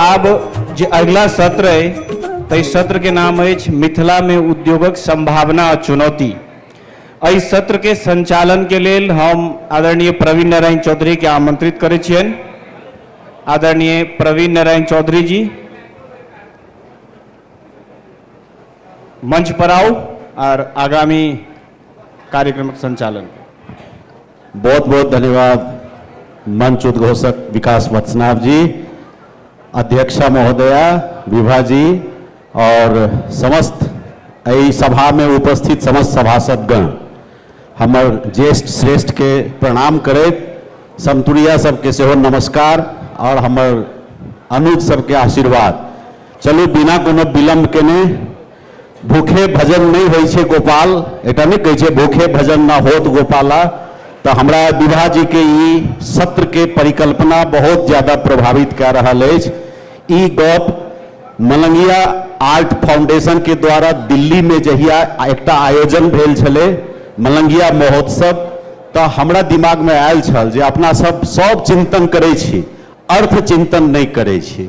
आब जे अगिला सत्र अइ ताहि सत्रके नाम अछि मिथिलामे उद्योगक सम्भावना आ चुनौती एहि सत्रके सञ्चालनके लेल हम आदरणीय प्रवीण नारायण चौधरीके आमन्त्रित करै छियनि आदरणीय प्रवीण नारायण चौधरी जी मंच पर आउ आर आगामी कार्यक्रमक सञ्चालन बहुत बहुत धन्यवाद मंच उद्घोषक विकास वत्सनाभ जी अध्यक्षा महोदया विभा जी और समस्त एहि सभा में उपस्थित समस्त सभासदगण हमर ज्येष्ठ श्रेष्ठ के प्रणाम करैत समतुरिया सबके सेहो नमस्कार और हमर अनुज सबके आशीर्वाद चलू बिना कोनो विलम्ब केने भूखे भजन नहीं होइ छै गोपाल एकटा नहीं कहै छै भूखे भजन ना होत गोपाला तो हमरा विभा जी के ई सत्र के परिकल्पना बहुत ज्यादा प्रभावित कए रहल अछि ई गप मलंगिया आर्ट फाउंडेशन के द्वारा दिल्ली में जहिया एकटा आयोजन भेल छलै मलंगिया महोत्सव तऽ हमरा दिमाग में आयल छल जे अपना सब सब चिंतन करै छी अर्थ चिंतन नहि करै छी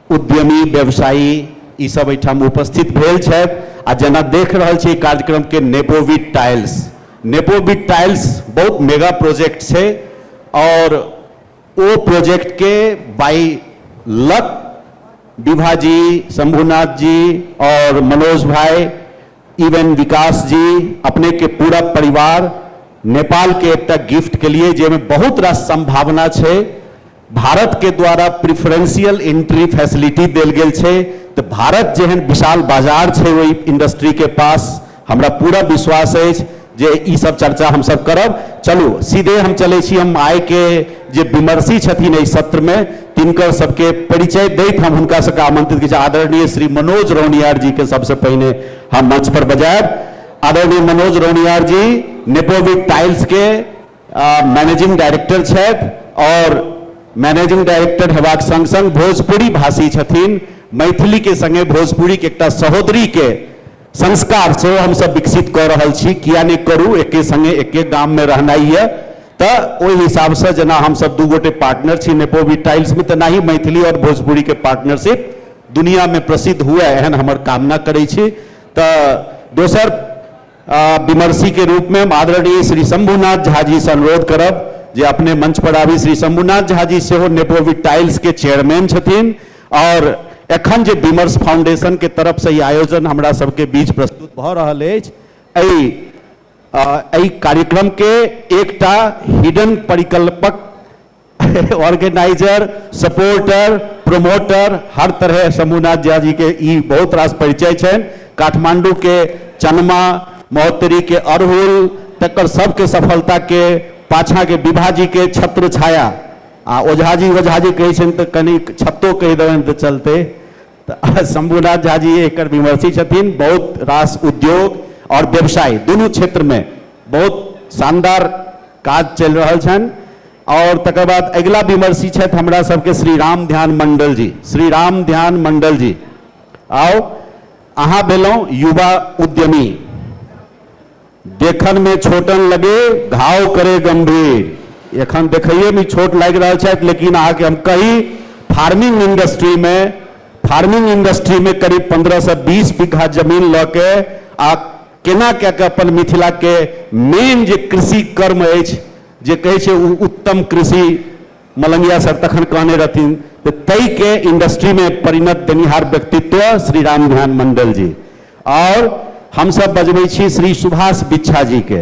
उद्यमी व्यवसायी ई सब एहिठाम उपस्थित भेल छथि आ जेना देख रहल छी कार्यक्रम के नेपोविट टाइल्स नेपोविट टाइल्स बहुत मेगा प्रोजेक्ट छै और ओ प्रोजेक्ट के बाई लक विभा जी शंभुनाथ जी और मनोज भाई इवन विकास जी अपने के पूरा परिवार नेपाल के एकटा गिफ्ट के लिए जाहिमे बहुत रास संभावना छै भारत के द्वारा प्रिफरेंशियल एंट्री फैसिलिटी देल गेल छै तऽ भारत जेहन विशाल बाजार छै ओहि इंडस्ट्री के पास हमरा पूरा विश्वास अछि जे ई सब चर्चा हम सब करब चलू सीधे हम चलै छी हम आइ के जे विमर्शी छथिन एहि सत्र में तिनकर सबके परिचय दैत हम हुनका सबके आमंत्रित करै छी आदरणीय श्री मनोज रौनियार जी के सबसे पहिने हम मंच पर बजायब आदरणीय मनोज रौनियार जी नेपोविक टाइल्स के मैनेजिंग डायरेक्टर छथि आओर मैनेजिंग डायरेक्टर हेबाक सङ्ग सङ्ग भोजपुरी भाषी छथिन मैथिलीके सङ्गे भोजपुरीके एकटा सहोदरीके संस्कार सेहो हमसभ विकसित कऽ रहल छी किया नहि करू एके सङ्गे एके गाममे रहनाइ यए तऽ ओहि हिसाबसँ जेना हमसभ दू गोटे पार्टनर छी नेपोवी टाइल्समे तऽ नाही मैथिली आओर भोजपुरीके पार्टनरशिप दुनिआँमे प्रसिद्ध हुए एहन हमर कामना करै छी तऽ दोसर विमर्शी के रूप में हम आदरणीय श्री शंभुनाथ झा जी से अनुरोध करब जे अपने मंच पर आबी श्री शंभुनाथ झा जी सेहो नेपोविट टाइल्स के चेयरमैन छथिन और एखन जे विमर्श फाउंडेशन के तरफ से ई आयोजन हमरा सबके बीच प्रस्तुत भऽ रहल अछि एहि अ, एहि कार्यक्रम के एकटा हिडन परिकल्पक ऑर्गेनाइजर सपोर्टर प्रोमोटर हर तरह शंभुनाथ झा जी के ई बहुत रास परिचय छनि काठमांडू के चनमा महोत्तरी के अड़हुल तकर सबके सफलता के पाछा के विभा जी के छत्र छाया आ ओझा जी ओझा जी कहै छनि तऽ कनि छत्तो कहि देबनि तऽ चलतै तऽ शंभुनाथ झा जी एकर विमर्शी छथिन बहुत रास उद्योग और व्यवसाय दुनू क्षेत्र में बहुत शानदार काज चलि रहल छनि आओर तकर बाद अगिला विमर्शी छथि हमरा सबके श्री राम ध्यान मंडल जी श्री राम ध्यान मंडल जी आओ अहाँ भेलहुँ युवा उद्यमी देखन में छोटन लगे घाव करे गंभीर एखन देखइए में छोट लागि रहल छथि लेकिन अहाँके हम कही फार्मिंग इंडस्ट्री में फार्मिंग इंडस्ट्री में करीब पंद्रह से बीस बीघा जमीन लऽ के आ केना कए कऽ अपन मिथिलाके मेन जे कृषि कर्म अछि जे कहै छै ओ उत्तम कृषि मलंगिया सर तखन कहने रहथिन तऽ ताहिके इंडस्ट्रीमे परिणत देनिहार व्यक्तित्व श्री राम ध्यान मंडल जी आओर हमसभ बजबै छी श्री सुभाष बिच्छा जीके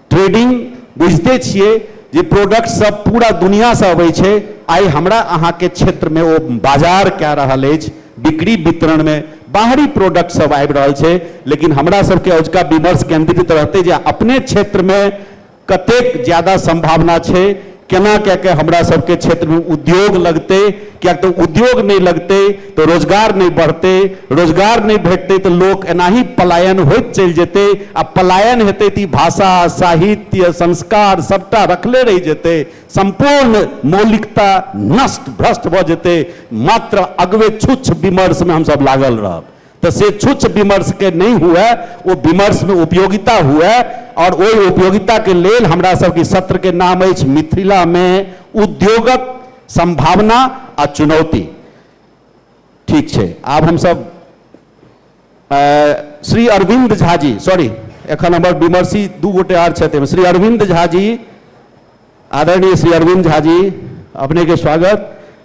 ट्रेडिंग बुझिते छियै जे प्रोडक्ट सब पूरा दुनिया से अबै छै आइ हमरा अहाँ के क्षेत्र में ओ बाजार कए रहल अछि बिक्री वितरण में बाहरी प्रोडक्ट सब आबि रहल छै लेकिन हमरा सब के अजुका विमर्श केंद्रित रहतै जे अपने क्षेत्र में कतेक ज्यादा संभावना छै केना कए कऽ हमरा सभके क्षेत्रमे उद्योग लगतै किएक तऽ उद्योग नहि लगतै तऽ रोजगार नहि बढ़तै रोजगार नहि भेटतै तऽ लोक एनाही पलायन होइत चलि जेतै आ पलायन हेतै तऽ ई भाषा साहित्य संस्कार सभटा रखले रहि जेतै सम्पूर्ण मौलिकता नष्ट भ्रष्ट भऽ जेतै मात्र अगवे छुच्छ विमर्शमे हमसभ लागल रहब तऽ से छुच्छ विमर्शके नहि हुए ओ विमर्शमे उपयोगिता हुए आओर ओहि उपयोगिताके लेल हमरा सबके सत्रके नाम अछि मिथिलामे उद्योगक संभावना आ चुनौती ठीक छै आब हमसब श्री अरविंद झा जी सॉरी एखन हमर विमर्शी दू गोटे आर छथि श्री अरविंद झा जी आदरणीय श्री अरविंद झा जी अपनेके स्वागत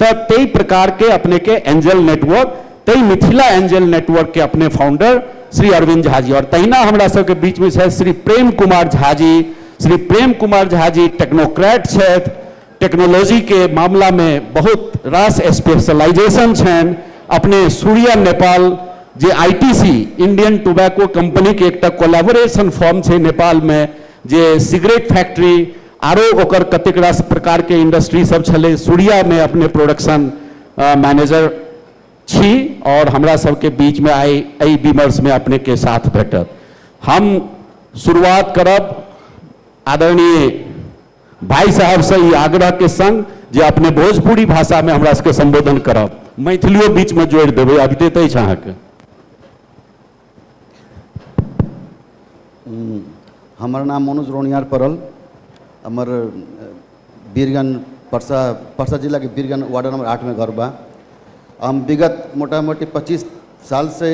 तऽ तइ प्रकार के अपने के एंजेल नेटवर्क तइ मिथिला एंजेल नेटवर्क के अपने फाउंडर श्री अरविंद झा जी और तहिना हमरा सब के बीच में छथि श्री प्रेम कुमार झा जी श्री प्रेम कुमार झा जी टेक्नोक्रेट छथि टेक्नोलॉजी के मामला में बहुत रास स्पेशलाइजेशन छन अपने सूर्य नेपाल जे आईटीसी इंडियन टोबैको कंपनी के एकटा कोलैबोरेशन फॉर्म छे नेपाल में जे सिगरेट फैक्ट्री आरो ओकर कतेक रास प्रकारके इंडस्ट्री सब छलै सूर्यामे अपने प्रोडक्शन मैनेजर छी आओर हमरा सबके बीचमे आइ एहि विमर्शमे अपनेके साथ भेटत हम शुरुआत करब आदरणीय भाई साहबसँ ई आग्रहके सङ्ग जे अपने भोजपुरी भाषामे हमरा सबके सम्बोधन करब मैथिलियो बीचमे जोड़ि देबै अबिते तऽ अछि अहाँके हमर नाम मनोज रौनियार पड़ल हमर बीरगंज परसा परसा जिलाके बीरगंज वार्ड नंबर आठमे घर बा हम विगत मोटा मोटी पच्चीस साल से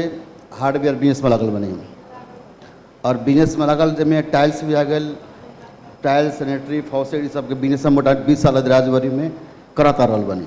हार्डवेयर बिजनेसमे लागल बनी हम और बिजनेसमे लागल जाहिमे टाइल्स भी आ गेल टाइल्स सैनिटरी फॉसेट ई सबके बिजनेस हम मोटा बीस साल राजबाड़ीमे करत आ रहल बनी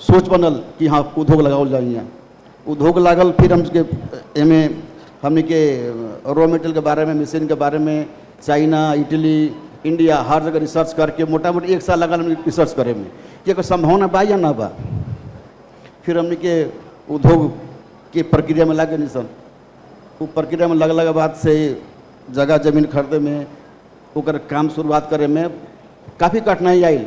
सोच बनल कि हँ उद्योग लगाओल जाय हियाँ उद्योग लागल फिर हम सबके एहिमे हमनीके रॉ मेटेरियलके बारेमे मशीनके बारेमे चाइना इटली इंडिया हर जगह रिसर्च करके मोटा मोटी एक साल लागल हमनी रिसर्च करेमे कि एकर संभावना बा या ना बा फिर हमनी के उद्योग के प्रक्रिया में लागे नहीं सन वो प्रक्रिया में लगला के बाद से जगह जमीन खरीदे में ओकर काम शुरुआत करे में काफ़ी कठिनाई आयल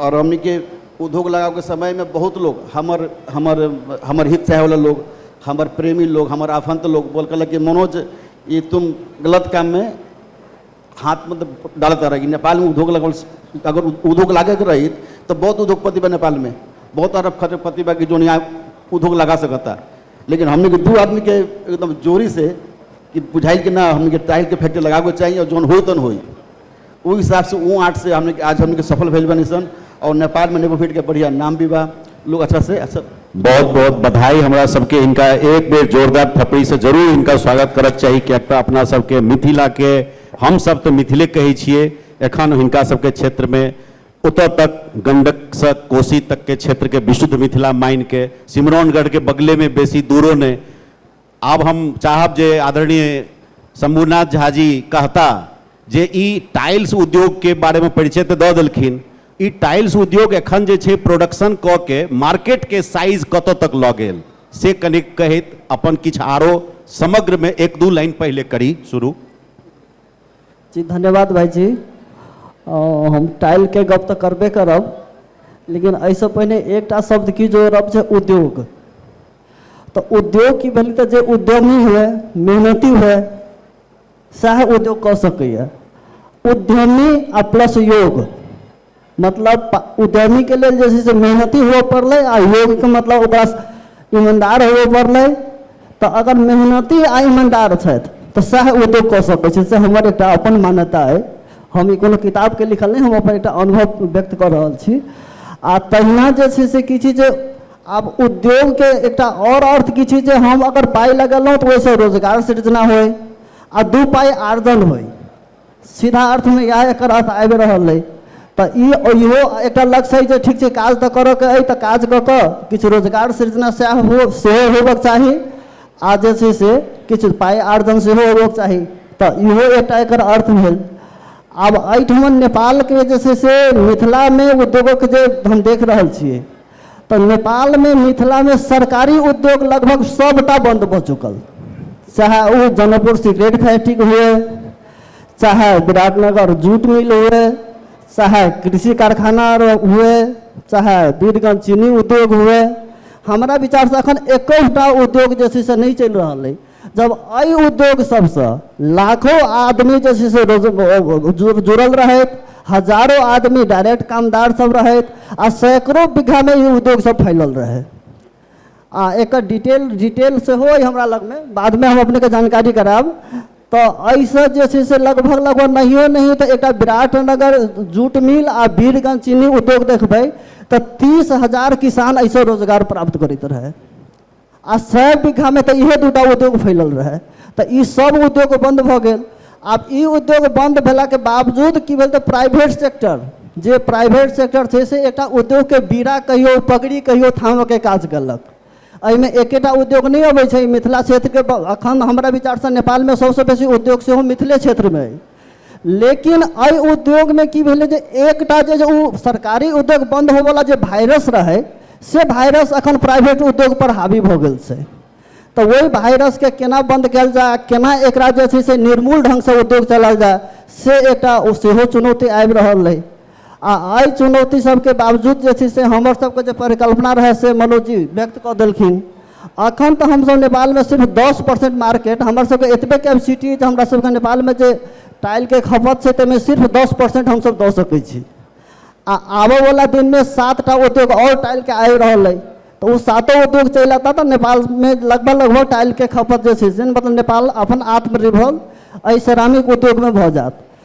आओर हमनीके उद्योग लगाबैके समयमे बहुत लोग हमर हमर हमर हित चाहैवला लोग हमर प्रेमी लोग हमर आफन्त लोग बोल कहलक कि मनोज ई तुम गलत काममे हाथ मतलब डालत रह कि नेपालमे उद्योग लगल अगर उद्योग लागैके रही तऽ बहुत उद्योगपति बा नेपालमे बहुत अरब खरबपति बा कि जोन यहाँ उद्योग लगा सकता लेकिन हमनीके दू आदमीके एकदम जोरीसँ कि बुझाइल कि ना हमनीके टाइलके फैक्ट्री लगाबैके चाही आओर जोन होई तोन होई ओहि हिसाबसँ ओ आर्टसँ हमने आज हमने सफल भेल बनी सन और नेपाल में नेबो फीट के बढ़िया नाम भी बा लोग अच्छा से अच्छा बहुत बहुत बधाई हमरा सबके इनका एक बेर जोरदार थपड़ी से जरूर इनका स्वागत करक चाही किएक तऽ अपना सबके मिथिलाके हमसब तऽ मिथिले कहै छियै एखन हिनका सबके क्षेत्रमे ओतऽ तक गंडकसँ कोसी तकके क्षेत्रके विशुद्ध मिथिला मानिके सिमरौनगढ़के बगलेमे बेसी दूरो नहि आब हम चाहब जे आदरणीय शंभुनाथ झा जी कहता जे ई टाइल्स उद्योगके बारेमे परिचय तऽ दऽ देलखिन ई टाइल्स उद्योग एखन जे छै प्रोडक्शन कऽ के मार्केटके साइज कतऽ तक लऽ गेल से कनिक कहैत अपन किछु आरो समग्रमे एक दू लाइन पहिले करी शुरू जी धन्यवाद भाईजी अ, हम टाइलके गप तऽ करबे करब लेकिन एहिसँ पहिने एकटा शब्द की जोड़ब छै उद्योग तऽ उद्योग की भेलै तऽ जे उद्यमी हुए मेहनती हुए सएह उद्योग कऽ सकैए उद्यमी आ प्लस योग मतलब उद्यमीके लेल जे छै से मेहनती हुअ पड़लै आ योगके मतलब ओकरा ईमानदार हुअ पड़लै तऽ अगर मेहनती आ ईमानदार छथि तऽ सएह उद्योग कऽ सकै छै से हमर एकटा अपन मान्यता अइ हम ई कोनो किताबके लिखल नहि हम अपन एकटा अनुभव व्यक्त कऽ रहल छी आ तहिना जे छै से की छै जे आब उद्योगके एकटा आओर अर्थ की छै जे हम अगर पाइ लगेलहुँ तऽ ओहिसँ रोजगार सृजना होइ आ दू पाइ आर्जन होइ सीधा अर्थमे इएह एकर अर्थ आबि रहल अइ तऽ ई इहो एकटा लक्ष्य अइ जे ठीक छै काज तऽ करऽके अइ तऽ काज कऽ कऽ किछु रोजगार सृजना सएह हो सेहो होबक चाही आ जे छै से किछु पाइ आर्जन सेहो होबक चाही तऽ इहो एकटा एकर अर्थ भेल आब एहिठमन नेपालके जे छै से मिथिलामे उद्योगक जे हम देख रहल छियै तऽ नेपालमे मिथिलामे सरकारी उद्योग लगभग सभटा बन्द भऽ चुकल चाहे ओ जनकपुर सिगरेट फैक्ट्री हुए चाहे विराटनगर जूट मिल हुए चाहे कृषि कारखाना हुए चाहे वीरगंज चीनी उद्योग हुए हमरा विचारसँ एखन एकोटा उद्योग जे छै से नहि चलि रहल अइ जब एहि उद्योग सभसँ लाखो आदमी जे छै से रोज जुड़ल रहैत हजारो आदमी डायरेक्ट कामदार सब रहैत आ सैकड़ो बीघामे ई उद्योग सब फैलल रहै आ एक डिटेल डिटेल सेहो अइ हमरा लगमे बादमे हम अपनेके जानकारी करायब तऽ एहिसँ जे छै से लगभग लगभग नहियो नहि तऽ एकटा विराटनगर जूट मिल आ वीरगंज चीनी उद्योग देखबै तऽ तीस हजार किसान एहिसँ रोजगार प्राप्त करैत रहै आ सए बीघामे तऽ इहे दूटा उद्योग फैलल रहै तऽ ई सब उद्योग बन्द भऽ गेल आब ई उद्योग बन्द भेलाके बावजूद की भेल तऽ प्राइवेट सेक्टर जे प्राइवेट सेक्टर छै से एकटा उद्योगके बीड़ा कहियो पगड़ी कहियो थामऽके काज केलक एहिमे एकेटा उद्योग नहि अबै छै मिथिला क्षेत्रके अखन हमरा विचारसँ नेपालमे सबसँ बेसी उद्योग सेहो मिथिले क्षेत्रमे अइ लेकिन एहि उद्योगमे की भेलै जे एकटा जे ओ सरकारी उद्योग बन्द होबऽवला जे वायरस रहै से वायरस एखन प्राइवेट उद्योगपर हावी भऽ गेल छै तऽ ओहि वायरसके केना बन्द कयल जाय केना एकरा जे छै से निर्मूल ढङ्गसँ उद्योग चलायल जाय से एकटा ओ सेहो चुनौती आबि रहल अइ आ एहि चुनौती सबके बावजूद जे छै से हमर सबके जे परिकल्पना रहै से मनोज जी व्यक्त कऽ देलखिन अखन तऽ हमसब नेपालमे सिर्फ दस परसेंट मार्केट हमर सबके एतबे कैपेसिटी जे हमरा सबके नेपालमे जे टाइलके खपत छै ताहिमे सिर्फ दस परसेंट हमसब दऽ सकै छी आ आबऽवला दिनमे सातटा उद्योग आओर टाइलके आबि रहल अइ तऽ ओ सातो उद्योग चलि अयता तऽ नेपालमे लगभग लगभग टाइलके खपत जे छै से मतलब नेपाल अपन आत्मनिर्भर एहि सेरामिक उद्योगमे भऽ जायत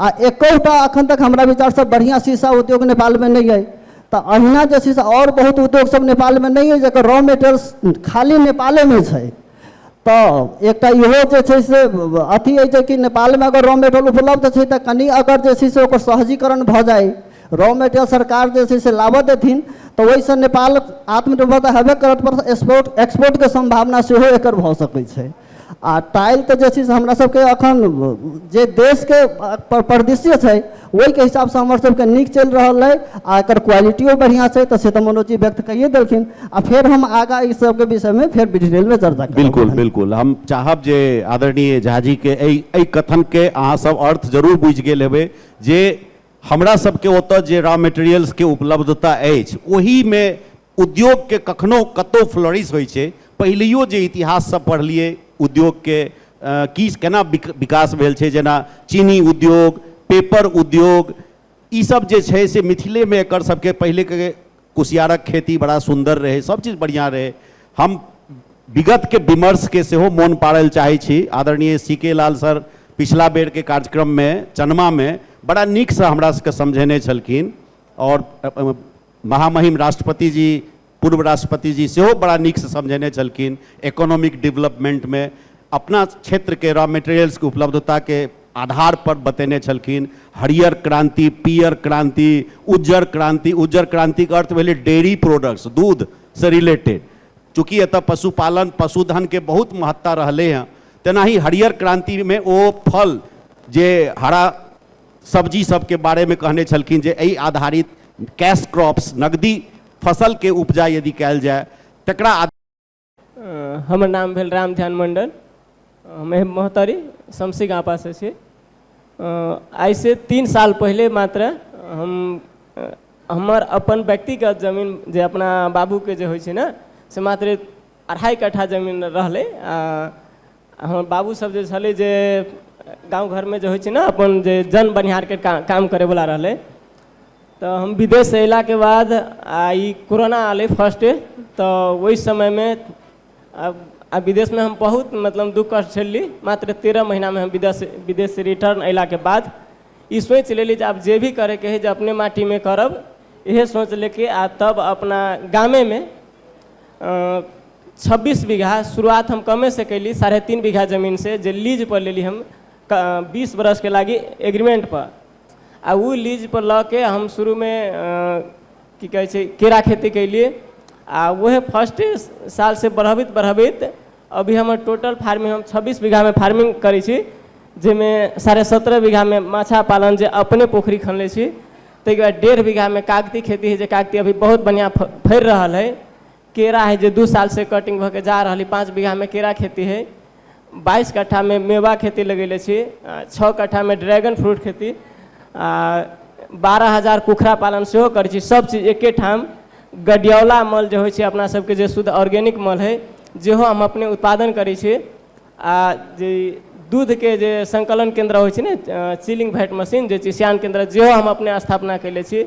आ एकहुटा अखन तक हमरा विचारसँ बढ़िआँ शीशा उद्योग नेपालमे नहि अइ तऽ अहिना जे छै से आओर बहुत उद्योगसभ नेपालमे नहि अइ जकर रॉ मेटेरियल्स खाली नेपालेमे छै तऽ एकटा इहो जे छै से अथी अइ जे कि नेपालमे अगर रॉ मेटेरियल उपलब्ध छै तऽ कनि अगर जे छै से ओकर सहजीकरण भऽ जाय रॉ मेटेरियल सरकार जे छै से लाबऽ देथिन तऽ ओहिसँ नेपाल आत्मनिर्भर तऽ हेबे करत पर एक्सपोर्ट एक्सपोर्टके सम्भावना सेहो एकर भऽ सकै छै आ टाइल तऽ जे छै से हमरा सबके अखन जे देश के परिदृश्य छै ओहि के हिसाब सँ हमर सबके नीक चलि रहल अइ आ एकर क्वालिटियो बढ़िऑं छै तऽ से तऽ मनोज जी व्यक्त कइये देलखिन आ फेर हम आगाँ ई सबके विषय मे फेर डिटेल मे चर्चा करब बिल्कुल बिल्कुल हम चाहब जे आदरणीय झा जी के एहि एहि कथन के अहाँ सब अर्थ जरूर बुझि गेल हेबै जे हमरा सबके ओतऽ जे रॉ मेटेरियल्स के उपलब्धता अछि ओहि मे उद्योगके कखनो कतहु फ्लोरिश होइ छै पहिलैयो जे इतिहास सब पढ़लियै उद्योगके की केना विकास भेल छै जेना चीनी उद्योग पेपर उद्योग ई सब जे छै से मिथिलेमे एकर सबके पहिलेके कुसियारक खेती बड़ा सुन्दर रहै सब चीज बढ़िआँ रहै हम विगतके विमर्शके सेहो मोन पाड़ल चाहै छी आदरणीय सी के लाल सर पिछला बेरके कार्यक्रममे चनमामे बड़ा नीकसँ हमरा सबके समझेने छलखिन आओर महामहिम राष्ट्रपति जी, पूर्व राष्ट्रपति जी सेहो बड़ा नीक सँ समझेने छलखिन इकोनॉमिक डेवलपमेंट मे अपना क्षेत्र के रॉ मटेरियल्स के उपलब्धता के आधार पर बतेने छलखिन हरियर क्रांति, पीयर क्रांति, उज्जर क्रांति, उज्जर क्रांति के अर्थ भेलै डेयरी प्रोडक्ट्स, दूध सँ रिलेटेड। चूँकि एतय पशुपालन, पशुधन के बहुत महत्ता रहलै हँ तेनाही हरियर क्रांति मे ओ फल जे हरा, सब्जी सबके बारे में कहने छलखिन जे एहि आधारित कैश क्रॉप्स नगदी फसल के उपजा यदि कयल जाय तकरा हमर नाम भेल राम ध्यान मंडल हम एह मोहतरी शमसी गाँपा से छी आइ से तीन साल पहिले मात्र हम हमर अपन व्यक्तिगत जमीन जे अपना बाबूके जे होइ छै ने से मात्र अढ़ाइ कट्ठा जमीन रहलै आ हमर बाबू सब जे छलै जे गाँव घरमे जे होइ छै ने अपन जे जन बनिहारके का, काम करैवला रहलै तऽ हम विदेशसँ अयलाके बाद आ ई कोरोना आलै फर्स्ट तऽ ओहि समयमे आ आ विदेशमे हम बहुत मतलब दुःख कष्ट झेलली मात्र तेरह महीनामे हम विदेश विदेश रिटर्न अयलाके बाद ई सोचि लेली जे आब जे भी करैके हइ जे अपने माटीमे करब इहे सोच लेके आ तब अपना गामेमे छब्बीस बीघा शुरुआत हम कमे से कैली साढ़े तीन बीघा जमीन से जे लीज पर लेली हम बीस बरस के लागी एग्रीमेंट पर आ ओ लीज पर लऽ के हम शुरू में की कहै छै केरा खेती कैली आ उहे फर्स्ट साल से बढ़बैत बढ़बैत अभी हमर टोटल फार्मिंग हम छब्बीस बीघामे फार्मिंग करै छी जाहिमे साढ़े सत्रह बीघामे माछा पालन जे अपने पोखरि खनले छी ताहिके बाद डेढ़ बीघामे कागती खेती हइ जे कागती अभी बहुत बढ़िआँ फ फड़ि रहल हइ केरा हइ जे दू सालसँ कटिंग भऽ कऽ जा रहल हइ पाँच बीघामे केरा खेती हइ बाइस कट्ठामे मेवा खेती लगेले छी आ छओ कट्ठामे ड्रैगन फ्रूट खेती आ बारह हजार कुखुरा पालन सेहो करै छी सभचीज एके ठाम गडियौला मल जे होइ छै अपना सबके जे शुद्ध ऑर्गेनिक मल हइ जेहो हम अपने उत्पादन करै छी आ जे दूधके जे संकलन केन्द्र होइ छै ने चिलिंग भैट मशीन जे चिसियान केन्द्र जेहो हम अपने स्थापना कयले छी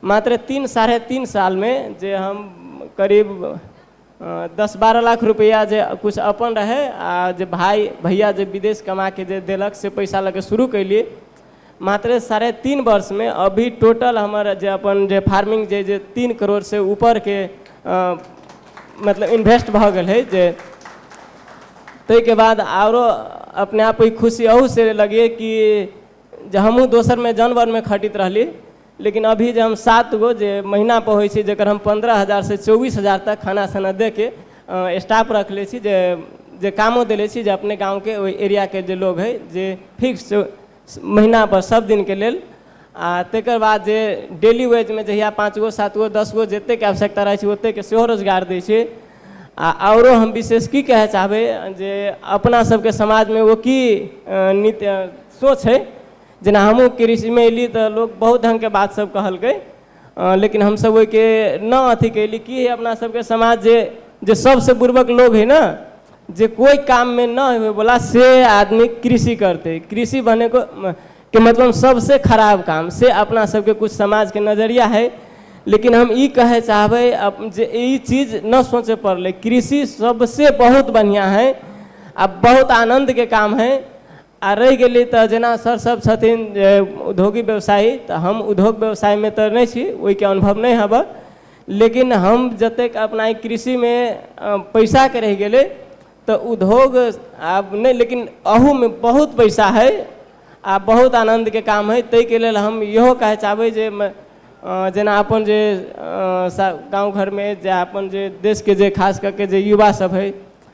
मात्र तीन साढ़े तीन सालमे जे हम करीब दस बारह लाख रुपैआ जे किछु अपन रहै आ जे भाय भैया जे विदेश कमाके जे देलक से पैसा लऽ कऽ शुरू कयली मात्र साढ़े तीन वर्षमे अभी टोटल हमर जे अपन जे फार्मिंग जे जे तीन करोड़ से ऊपरके अ, मतलब इन्वेस्ट भऽ गेल है जे ताहिके बाद आरो अपने आप ई खुशी अहू से लगिए कि जे हमहूँ दोसरमे जनवरमे खटित रहली लेकिन अभी जे हम सात गो जे महीना पर होइ छै जकर हम पंद्रह हजार से चौबीस हजार तक खाना साना दे के स्टाफ रखले छी जे जे कामो देले छी जे अपने गाँव के ओहि एरिया के जे लोग है जे फिक्स महीना पर सब दिन के लेल आ तकर बाद जे डेली वेज मे जहिया पाँच गो सात गो दस गो जते के आवश्यकता रहै छै ओते के सेहो रोजगार दै छै आ आओरो हम विशेष की कहय चाहबै जे अपना सबके समाज मे ओ की नित सोच है जेना हमहूँ कृषिमे अयली तऽ लोक बहुत ढङ्गके बात सभ कहलकै अ, लेकिन हमसभ ओहिके न अथी कैली की है अपना सभके समाज जे जे सबसे बुर्बक लोग है ना जे कोई काम में न होवे वाला से आदमी कृषि करते कृषि बने को म- के मतलब सबसे खराब काम से अपना सबके कुछ समाज के नजरिया है लेकिन हम ई कहे चाहबै अप- जे ई चीज न सोचे पड़ले कृषि सबसे बहुत बढ़िया है आ बहुत आनंद के काम है आ रहि गेलै तऽ जेना सर सभ छथिन जे उद्योगी व्यवसायी तऽ हम उद्योग व्यवसायमे तऽ नहि छी ओहिके अनुभव नहि हबऽ लेकिन हम जतेक अपना ई कृषिमे पैसाके रहि गेलै तऽ उद्योग आब नहि लेकिन अहूमे बहुत पैसा हइ आ बहुत आनन्दके काम हइ ताहिके लेल हम इहो कहय चाहबै जे जेना अपन जे गाँव घरमे जे अपन जे देशके जे खास कऽ कऽ जे युवासभ हइ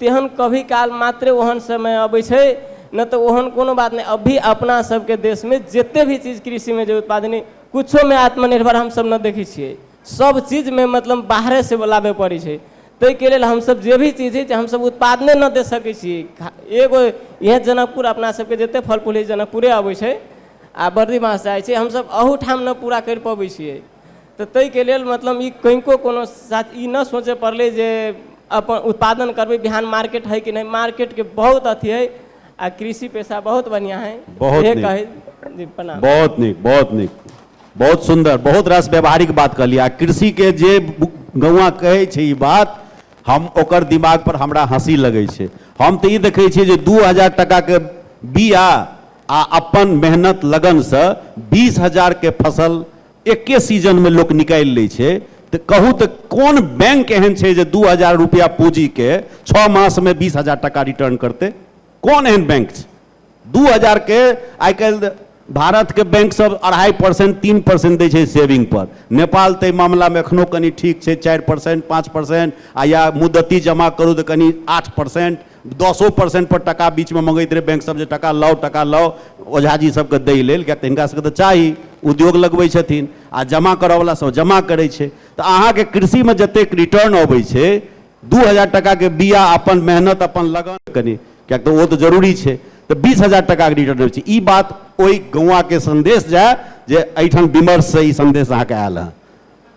तेहन कभी काल मात्रे ओहन समय अबै छै नहि तऽ ओहन कोनो बात नहि अभी अपना सबके देशमे जते भी चीज कृषिमे जे उत्पादन किछोमे आत्मनिर्भर हमसब नहि देखै छियै सब चीजमे मतलब बाहरे से लाबे पड़ै छै ताहिके लेल हमसब जे भी चीज छै हमसब उत्पादने नहि दे सकै छियै एगो इएह जनकपुर अपना सबके जते फल फूल होइ जनकपुरे अबै छै आ बर्दी बाँस जाइ छै हमसब अहूठाम नहि पूरा करि पबै छियै तऽ ताहिके लेल मतलब ई कनिको कोनो साथ ई नहि सोचय पड़लै जे अपन उत्पादन करबै बिहान मार्केट हइ कि नहि मार्केटके बहुत अथी हइ आ कृषि पेशा बहुत बढ़िआँ हइ बहुत इहे नीक। कहै जी प्रणाम बहुत नीक बहुत नीक बहुत सुन्दर बहुत रास व्यावहारिक बात कहलियै आ कृषिके जे गौआ कहै छै ई बात हम ओकर दिमाग पर हमरा हँसी लगै छै हम तऽ ई देखै छियै जे दू हजार टाकाके बीआ आ अपन मेहनत लगनसँ बीस हजारके फसल एक्के सीजनमे लोक निकालि लै छै तऽ कहू तऽ कोन बैंक एहन छै जे दू हजार रुपैआ पूजीके छओ मासमे बीस हजार टाका रिटर्न करतै कोन एहन बैंक छै दू हजारके आइ काल्हि भारतके बैंक सब अढ़ाइ परसेन्ट तीन परसेन्ट दै छै सेविंग पर नेपाल ताहि मामिलामे एखनो कनि ठीक छै चारि परसेन्ट पाँच परसेन्ट आ या मुद्दती जमा करू तऽ कनि आठ परसेन्ट दसो परसेंट पर टाका बीच में मंगैत रहै बैंक सब जे टाका लाउ टाका लाउ ओझा जी सबके दै लेल किएक तऽ हिनका सबके तऽ चाही उद्योग लगबै छथिन आ जमा करऽ वाला सब जमा करै छै तऽ अहाँके कृषि में जतेक रिटर्न अबै छै दू हजार टाका के बिया अपन मेहनत अपन लगन कनि किएक तऽ ओ तऽ जरूरी छै तऽ बीस हजार टाका के रिटर्न अबै छै ई बात ओहि गौआ के संदेश जाय जे एहिठाम विमर्श से ई संदेश अहाँके आयल हँ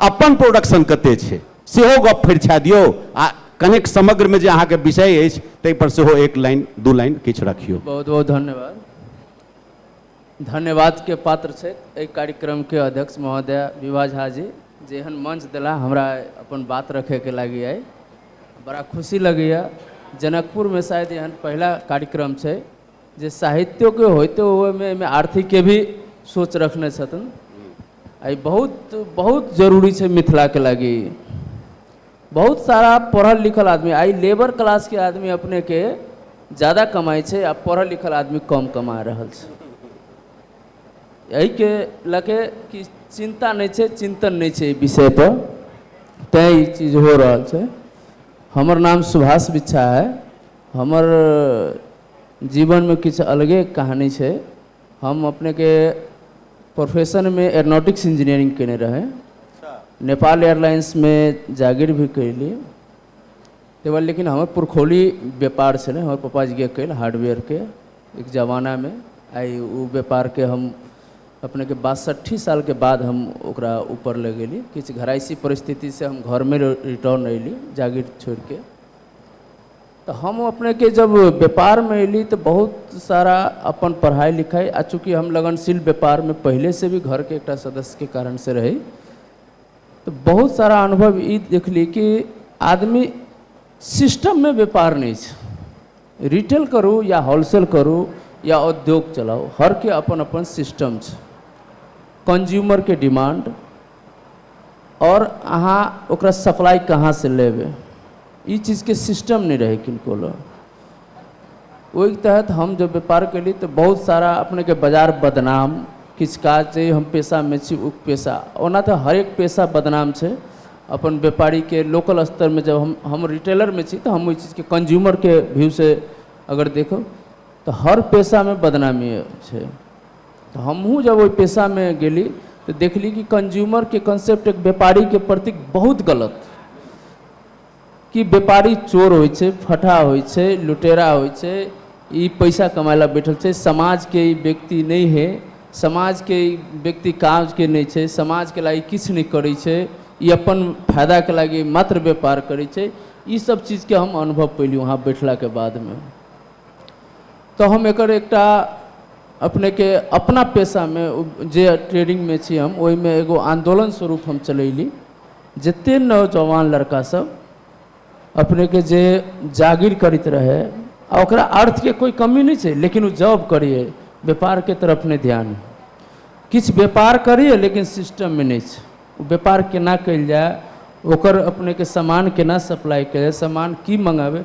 अपन प्रोडक्शन कते छै सेहो गप फरिछा दियौ आ कनेक समग्र में जे अहाँ के विषय अछि ताहि पर सेहो एक लाइन दू लाइन किछु रखियौ बहुत बहुत धन्यवाद धन्यवाद के पात्र छथि एहि कार्यक्रम के अध्यक्ष महोदय विभा झा जी जे एहन मंच देला हमरा अपन बात रखे के लागी आइ बड़ा खुशी लगैया जनकपुर में शायद एहन पहिला कार्यक्रम छै जे साहित्योके होइते ओहिमे एहिमे आर्थिकके भी सोच रखने छथिन आ ई बहुत बहुत जरूरी छै मिथिलाके लागी ई बहुत सारा पढ़ल लिखल आदमी आइ लेबर क्लासके आदमी अपनेके ज्यादा कमाइ छै आ पढ़ल लिखल आदमी कम कमा रहल छै एहिके लऽ के कि चिन्ता नहि छै चिन्तन नहि छै एहि विषयपर तैँ ई चीज हो रहल छै हमर नाम सुभाष बिछा है हमर जीवनमे किछु अलगे कहानी छै हम अपनेके प्रोफेशनमे एरोनॉटिक्स इंजीनियरिंग कयने रहै अच्छा नेपाल एयरलाइंसमे जागीर भी कयली ताहि बाद लेकिन हमर पुरखौली व्यापार छलै हमर पापाजीके कयल हार्डवेयरके एक जमानामे आइ ओ व्यापारके हम अपनेके बासठि सालके बाद हम ओकरा ऊपर ले गेली किछु घराइसी परिस्थितिसँ हम घरमे रिटर्न अयली जागीर छोड़ि कऽ तऽ हम अपनेके जब व्यापारमे अयली तऽ बहुत सारा अपन पढ़ाइ लिखाइ आ चूँकि हम लगनशील व्यापारमे पहिलेसँ भी घरके एकटा सदस्यके कारणसँ रही तऽ बहुत सारा अनुभव ई देखली कि आदमी सिस्टममे व्यापार नहि छै रिटेल करू या होलसेल करू या उद्योग चलाउ हरके अपन अपन सिस्टम छै कन्ज्यूमरके डिमांड आओर अहाँ ओकरा सप्लाइ कहाँसँ लेबै ई चीजके सिस्टम नहि रहै किनको लग ओहिके तहत हम जब व्यापार कयली तऽ बहुत सारा अपनेके बाजार बदनाम किछु काज जे हम पेशामे छी ओ पेशा ओना तऽ हरेक पेशा बदनाम छै अपन व्यापारीके लोकल स्तरमे जब हम हम रिटेलरमे छी तऽ हम ओहि चीजके कंज्यूमरके व्यूसँ अगर देखब तऽ हर पेशामे बदनामी छै तऽ हमहूँ जब ओहि पेशामे गेली तऽ देखली कि कन्ज्यूमरके कॉन्सेप्ट एक व्यापारीके प्रति बहुत गलत कि व्यापारी चोर होइ छै फटहा होइ छै लुटेरा होइ छै ई पैसा कमाय लए बैठल छै समाजके ई व्यक्ति नहि हे समाजके ई व्यक्ति काजके नहि छै समाजके लागी किछु नहि करै छै ई अपन फायदाके लागी मात्र व्यापार करै छै ई सब चीजके हम अनुभव पयली वहाँ बैठलाके बादमे तऽ हम एकर एकटा अपनेके अपना पेशामे जे ट्रेडिंगमे छी हम ओहिमे एगो आन्दोलन स्वरूप हम चलयली जतेक नौजवान लड़कासभ अपनेके जे जागीर करैत रहय आ ओकरा अर्थके कोइ कमी नहि छै लेकिन ओ जॉब करियै व्यापारके तरफ नहि ध्यान किछु व्यापार करियै लेकिन सिस्टममे नहि छै ओ व्यापार केना कयल जाय ओकर अपनेके सामान केना सप्लाइ कयल जाय सामान की मङ्गाबय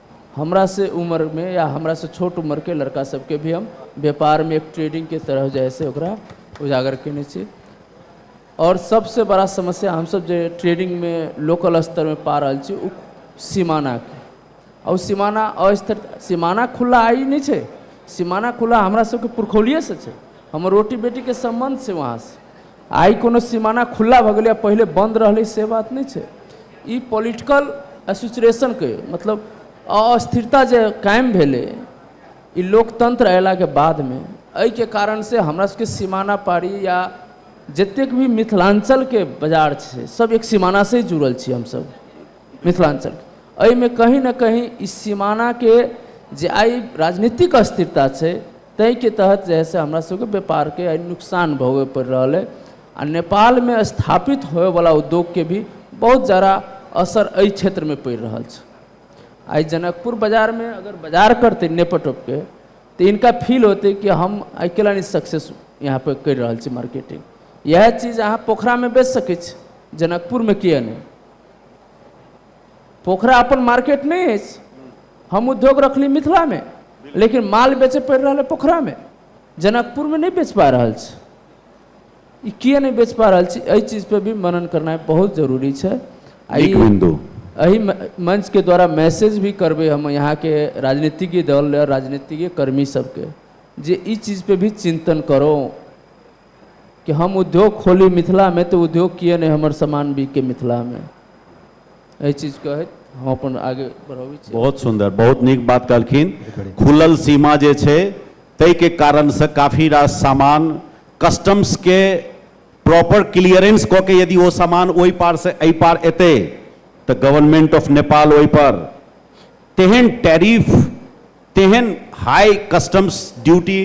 हमरा से उमर मे या हमरा से छोट उमर के लड़का सब के भी हम व्यापार मे एक ट्रेडिंग के तरह जे है से ओकरा उजागर केने छी आओर सब से बड़ा समस्या हम सब जे ट्रेडिंग मे लोकल स्तर मे पा रहल छी ओ सीमाना के आओर सीमाना अस्तर सीमाना खुला आइ नहि छै सीमाना खुला हमरा सब के पुर्खौलिये से छै हमर रोटी बेटी के सम्बन्ध छै वहाँ से आइ कोनो सिमाना खुल्ला भऽ गेलैए पहिले बन्द रहलै से बात नहि छै ई पॉलिटिकल एसोसिएशनके मतलब अस्थिरता जे कायम भेलै ई लोकतन्त्र अयलाके बादमे एहिके कारणसँ हमरा सबके सिमाना पारी या जतेक भी मिथिलाञ्चलके बाजार छै सब एक सिमानासँ जुड़ल छी हमसब मिथिलाञ्चल एहिमे कहीँ ने कहीँ ई सिमानाके जे आइ राजनीतिक अस्थिरता छै ताहिके तहत जे हइ से हमरा सबके व्यापारके आइ नुकसान भोगै पड़ि रहल अइ आ नेपालमे स्थापित होइवला उद्योगके भी बहुत जादा असर एहि क्षेत्रमे पड़ि रहल छै आइ जनकपुर बाजारमे अगर बाजार करतै नेपटोपके तऽ इनका फील होतै कि हम आइ केला नहि सक्सेस यहाँ पर करि रहल छी मार्केटिंग इएह चीज अहाँ पोखरामे बेच सकै छी जनकपुरमे किए नहि पोखरा अपन मार्केट नहि अछि हम उद्योग रखली मिथिलामे लेकिन माल बेचय पड़ि रहल अइ पोखरामे जनकपुरमे नहि बेच पा रहल छी ई किए नहि बेच पा रहल छी एहि चीजपर भी मनन करनाइ बहुत जरूरी छै आ ई एहि मंचके द्वारा मैसेज भी करबै हम यहाँके राजनीतिज्ञ दल आओर राजनीतिज्ञ कर्मी सबके जे ई चीजपर भी चिन्तन करो कि हम उद्योग खोली मिथिलामे तऽ उद्योग किए नहि हमर सामान बिके मिथिलामे एहि चीज कहैत हम अपन आगे बढ़बै छी बहुत सुन्दर बहुत नीक बात कहलखिन खुलल सीमा जे छै ताहिके कारणसँ काफी रास सामान कस्टम्सके प्रॉपर क्लियरेंस कऽ के यदि ओ सामान ओहि पारसँ एहि पार एतै तऽ गवर्नमेंट ऑफ नेपाल ओहिपर तेहन टैरिफ तेहन हाई कस्टम्स ड्यूटी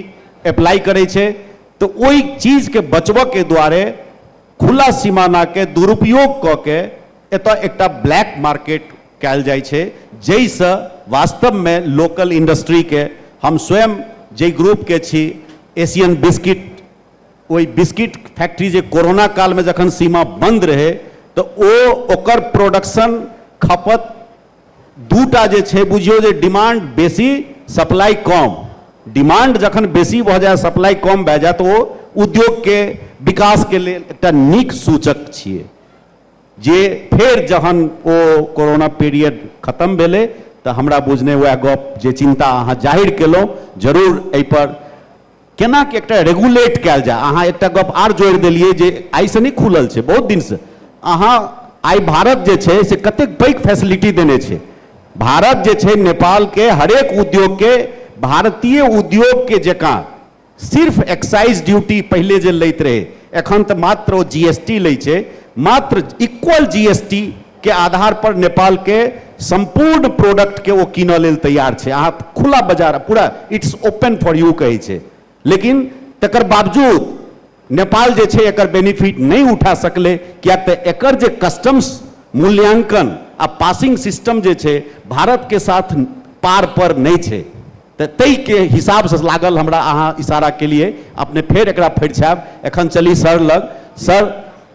अप्लाई करै छै तऽ ओहि चीजके बचबऽके दुआरे खुला सीमाना के दुरुपयोग कऽ के एतय एकटा ब्लैक मार्केट कयल जाइ छै जइ सँ वास्तव मे लोकल इंडस्ट्री के हम स्वयं जइ ग्रुप के छी एशियन बिस्किट ओहि बिस्किट फैक्ट्री जे कोरोना काल मे जखन सीमा बंद रहै तऽ ओ ओकर प्रोडक्शन खपत दूटा जे छै बुझियौ जे डिमांड बेसी सप्लाई कम डिमांड जखन बेसी भऽ जाए सप्लाई कम भए जाए तऽ ओ उद्योगके विकासके लेल एकटा नीक सूचक छियै जे फेर जहन ओ कोरोना पीरियड खतम भेलै तऽ हमरा बुझने उएह गप जे चिन्ता अहाँ जाहिर केलहुँ जरूर एहिपर केना कि एकटा रेगुलेट कयल जाय अहाँ एकटा गप आर जोड़ि देलियै जे आइसँ नहि खुलल छै बहुत दिनसँ अहाँ आइ भारत जे छै से कतेक पैघ फैसिलिटी देने छै भारत जे छै नेपालके हरेक उद्योगके भारतीय उद्योगके जकाँ सिर्फ एक्साइज ड्यूटी पहिले जे लैत रहै एखन तऽ मात्र ओ जी एस टी लै छै मात्र इक्वल जी एस टी के आधार पर नेपाल के सम्पूर्ण प्रोडक्ट के ओ कीनऽ लेल तैयार छै। अहाँ खुला बाजार पूरा इट्स ओपन फॉर यू कहै छै। लेकिन तकर बावजूद नेपाल जे छै एकर बेनिफिट नहि उठा सकलै किएक तऽ एकर जे कस्टम्स मूल्यांकन आ पासिंग सिस्टम जे छै भारत के साथ पार पर नहि छै। तऽ तइ के हिसाब सँ लागल हमरा अहाँ इशारा केलियै। अपने फेर एकरा फरिछायब। एखन चली सर लग। सर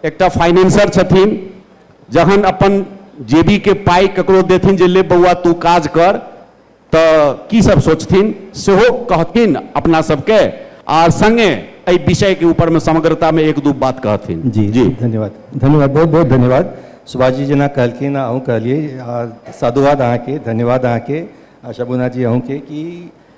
एकटा फाइनेंसर छथिन। जखन अपन जेबी के पाइ ककरो देथिन जे ले बौआ तू काज कर तऽ की सब सोचथिन सेहो कहथिन अपना सबके आ संगे एहि विषय के ऊपर में समग्रता में एक दू बात कहथिन जी जी धन्यवाद धन्यवाद बहुत बहुत धन्यवाद सुभाष जी जेना कहलखिन आ अहूँ कहलियै आ साधुवाद अहाँके धन्यवाद अहाँके आ शबुना जी अहूँके कि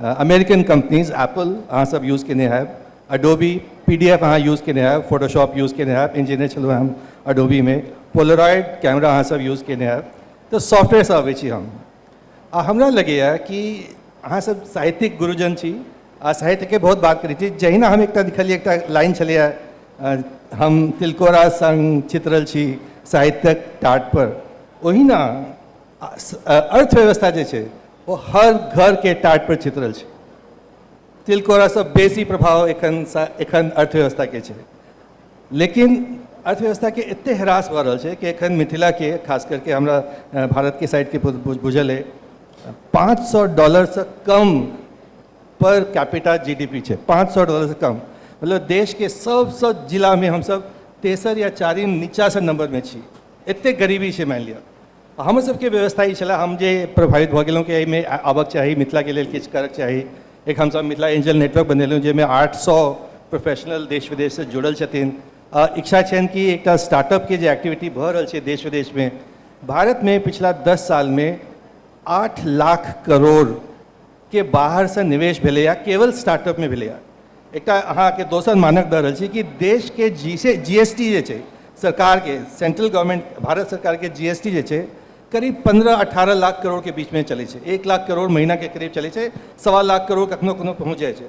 अमेरिकन कम्पनीज एप्पल अहाँ सब यूज केने हैब अडोबी पी डी एफ अहाँ यूज केने हैब फोटोशॉप यूज केने हैब इंजीनियर छलहुँ हम अडोबीमे पोलराइड कैमरा अहाँ सब यूज केने हैब तऽ सॉफ्टवेयरसँ अबै छी हम आ हमरा लगैए कि अहाँ सब साहित्यिक गुरुजन छी आ साहित्यके बहुत बात करै छी जहिना हम एकटा लिखलियै एकटा लाइन छलैए अ, हम तिलकोरा संग चित्रल छी साहित्यक टाट पर ओहिना अ, स- अ, अर्थव्यवस्था जे छै ओ हर घरके टाटपर चित्रल छै तिलकोरासँ बेसी प्रभाव एखन एखन अर्थव्यवस्थाके छै लेकिन अर्थव्यवस्थाके एतेक ह्रास भऽ रहल छै कि एखन मिथिलाके खास करके हमरा भारतके साइडके बुझल अइ पाँच सए डॉलरसँ कम per capita G D P छै पाँच सए डॉलरसँ कम मतलब देशके सभसँ जिलामे हमसभ तेसर या चारिम नीचाँसँ नम्बरमे छी एतेक गरीबी छै मानि लिअ हमर सबके व्यवस्था ई छलै हम जे प्रभावित भऽ गेलहुँ कि एहिमे आबक चाही मिथिलाके लेल किछु करक चाही एक हमसब मिथिला एंजल नेटवर्क बनेलहुँ जाहिमे आठ सए प्रोफेशनल देश विदेशसँ जुड़ल छथिन आ इच्छा छनि कि एकटा स्टार्टअपके जे एक्टिविटी भऽ रहल छै देश विदेशमे भारतमे पिछला दस सालमे आठ लाख करोड़ के बाहरसँ निवेश भेलैए केवल स्टार्टअपमे भेलैए एकटा अहाँके दोसर मानक दऽ रहल छी कि देशके जी से जी एस टी जे छै सरकारके सेंट्रल गवर्नमेंट भारत सरकारके जी एस टी जे छै करीब पन्द्रह अठारह लाख करोड़के बीचमे चलै छै एक लाख करोड़ महीनाके करीब चलै छै सवा लाख करोड़ कखनो कखनो पहुँच जाइ छै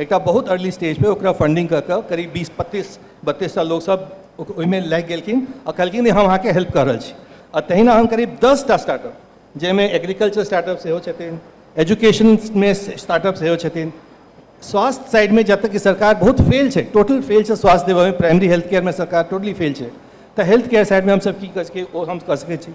एकटा बहुत अर्ली स्टेज पे ओकरा फंडिंग कऽ कऽ करीब बीस पच्चीस बत्तीसटा लोकसभ ओक- ओहिमे लागि गेलखिन आ कहलखिन जे हम अहाँके हेल्प कऽ रहल छी आ तहिना हम करीब दसटा स्टार्टअप जाहिमे एग्रीकल्चर स्टार्टअप सेहो छथिन एजुकेशनमे स्टार्टअप सेहो छथिन स्वास्थ्य साइडमे जतऽ कि सरकार बहुत फेल छै टोटल फेल छै स्वास्थ्य देबऽमे प्राइमरी हेल्थ केयरमे सरकार टोटली फेल छै तऽ हेल्थ केयर साइडमे हमसभ की कऽ सकै ओ हम कऽ सकै छी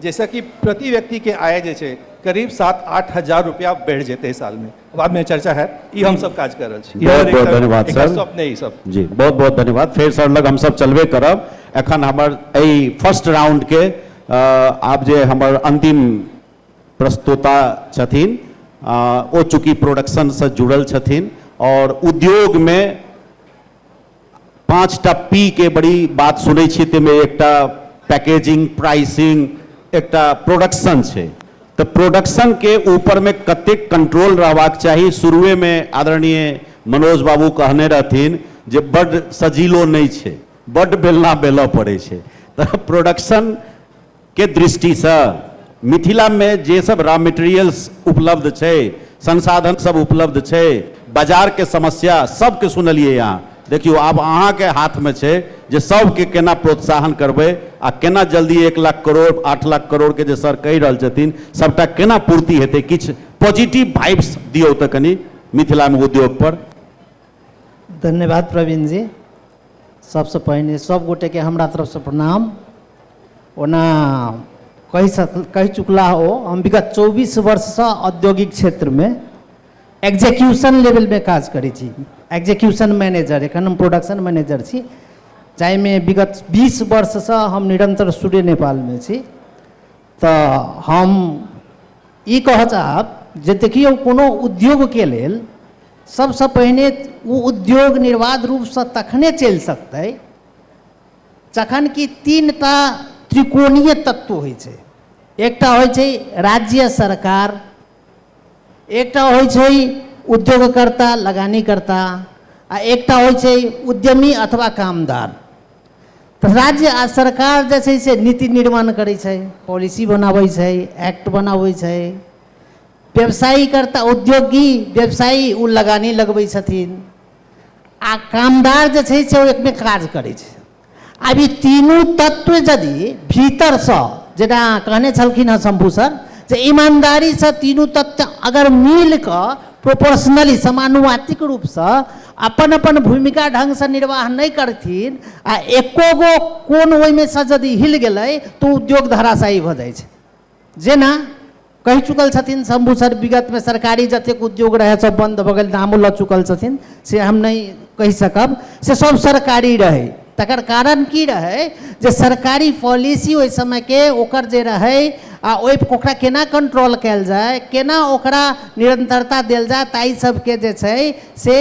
जाहिसँ कि प्रति व्यक्तिके आय जे छै करीब सात आठ हजार रुपआ बढ़ि जेतै सालमे बादमे चर्चा हैत ई हमसब काज कऽ रहल छी बहुत बहुत धन्यवाद सर स्वप्न ई सब जी बहुत बहुत धन्यवाद फेर सर लग हमसब चलबे करब एखन हमर एहि फर्स्ट राउंडके आब जे हमर अन्तिम प्रस्तुता छथिन ओ चूँकि प्रोडक्शनसँ जुड़ल छथिन आओर उद्योगमे पाँच टा पी के बड़ी बात सुनै छियै ताहिमे एकटा पैकेजिंग प्राइसिंग एकटा प्रोडक्शन छै तऽ प्रोडक्शन के ऊपर में कतेक कंट्रोल रहबाक चाही शुरुए में आदरणीय मनोज बाबू कहने रहथिन जे बड्ड सजीलो नहि छै बड्ड बेलना बेलऽ पड़ै छै तऽ प्रोडक्शन के दृष्टि स मिथिला मे जे सब रॉ मटेरियल्स उपलब्ध छै, संसाधन सब उपलब्ध छै, बाजार के समस्या सब के सुनलियै अहां। देखियौ आब अहां के हाथ मे छै जे सब के केना प्रोत्साहन करबै आ केना जल्दी एक लाख करोड़, आठ लाख करोड़ के जे सर कहि रहल छथिन सबटा केना पूर्ति हेतै। किछु पॉजिटिव भाइब्स दियौ त कनी मिथिला मे उद्योग पर। धन्यवाद प्रवीण जी। सबसे पहिने सब गोटे के हमरा तरफ से प्रणाम। ओना कहि सक कहि चुकला ओ हम विगत चौबीस वर्षसँ औद्योगिक क्षेत्रमे एग्जीक्यूशन लेवलमे काज करै छी एग्जीक्यूशन मैनेजर एखन हम प्रोडक्शन मैनेजर छी जाहिमे विगत बीस वर्षसँ हम निरन्तर सूर्य नेपालमे छी तऽ हम ई कहऽ चाहब जे देखियौ कोनो उद्योगके लेल सभसँ पहिने ओ उद्योग निर्वाध रूपसँ तखने चलि सकतै जखन कि तीन टा त्रिकोणीय तत्व होइ छै एकटा होइ छै राज्य सरकार एकटा होइ छै उद्योगकर्ता लगानीकर्ता आ एकटा होइ छै उद्यमी अथवा कामदार तऽ राज्य आ सरकार जे छै से नीति निर्माण करै छै पॉलिसी बनाबै छै एक्ट बनाबै छै व्यवसायीकर्ता उद्योगी व्यवसायी ओ लगानी लगबै छथिन आ कामदार जे छै से ओ एकमे काज करै छै आब ई तीनू तत्व यदि भीतरसँ जेना कहने छलखिन हँ शम्भू सर जे ईमानदारीसँ तीनू तत्व अगर मिल कऽ प्रोपोर्शनली समानुवातिक रूपसँ अपन अपन भूमिका ढङ्गसँ निर्वाह नहि करथिन आ एको गो कोन ओहिमेसँ यदि हिल गेलै तऽ उद्योग धराशायी भऽ जाइ छै जेना कहि चुकल छथिन शम्भू सर विगतमे सरकारी जतेक उद्योग रहै सब बन्द भऽ गेल नामो लऽ चुकल छथिन से हम नहि कहि सकब से सब सरकारी रहै तकर कारण की रहै जे सरकारी पॉलिसी ओहि समयके ओकर जे रहै आ ओहि ओकरा केना कंट्रोल कयल जाय केना ओकरा निरंतरता देल जाय ताहि सबके जे छै से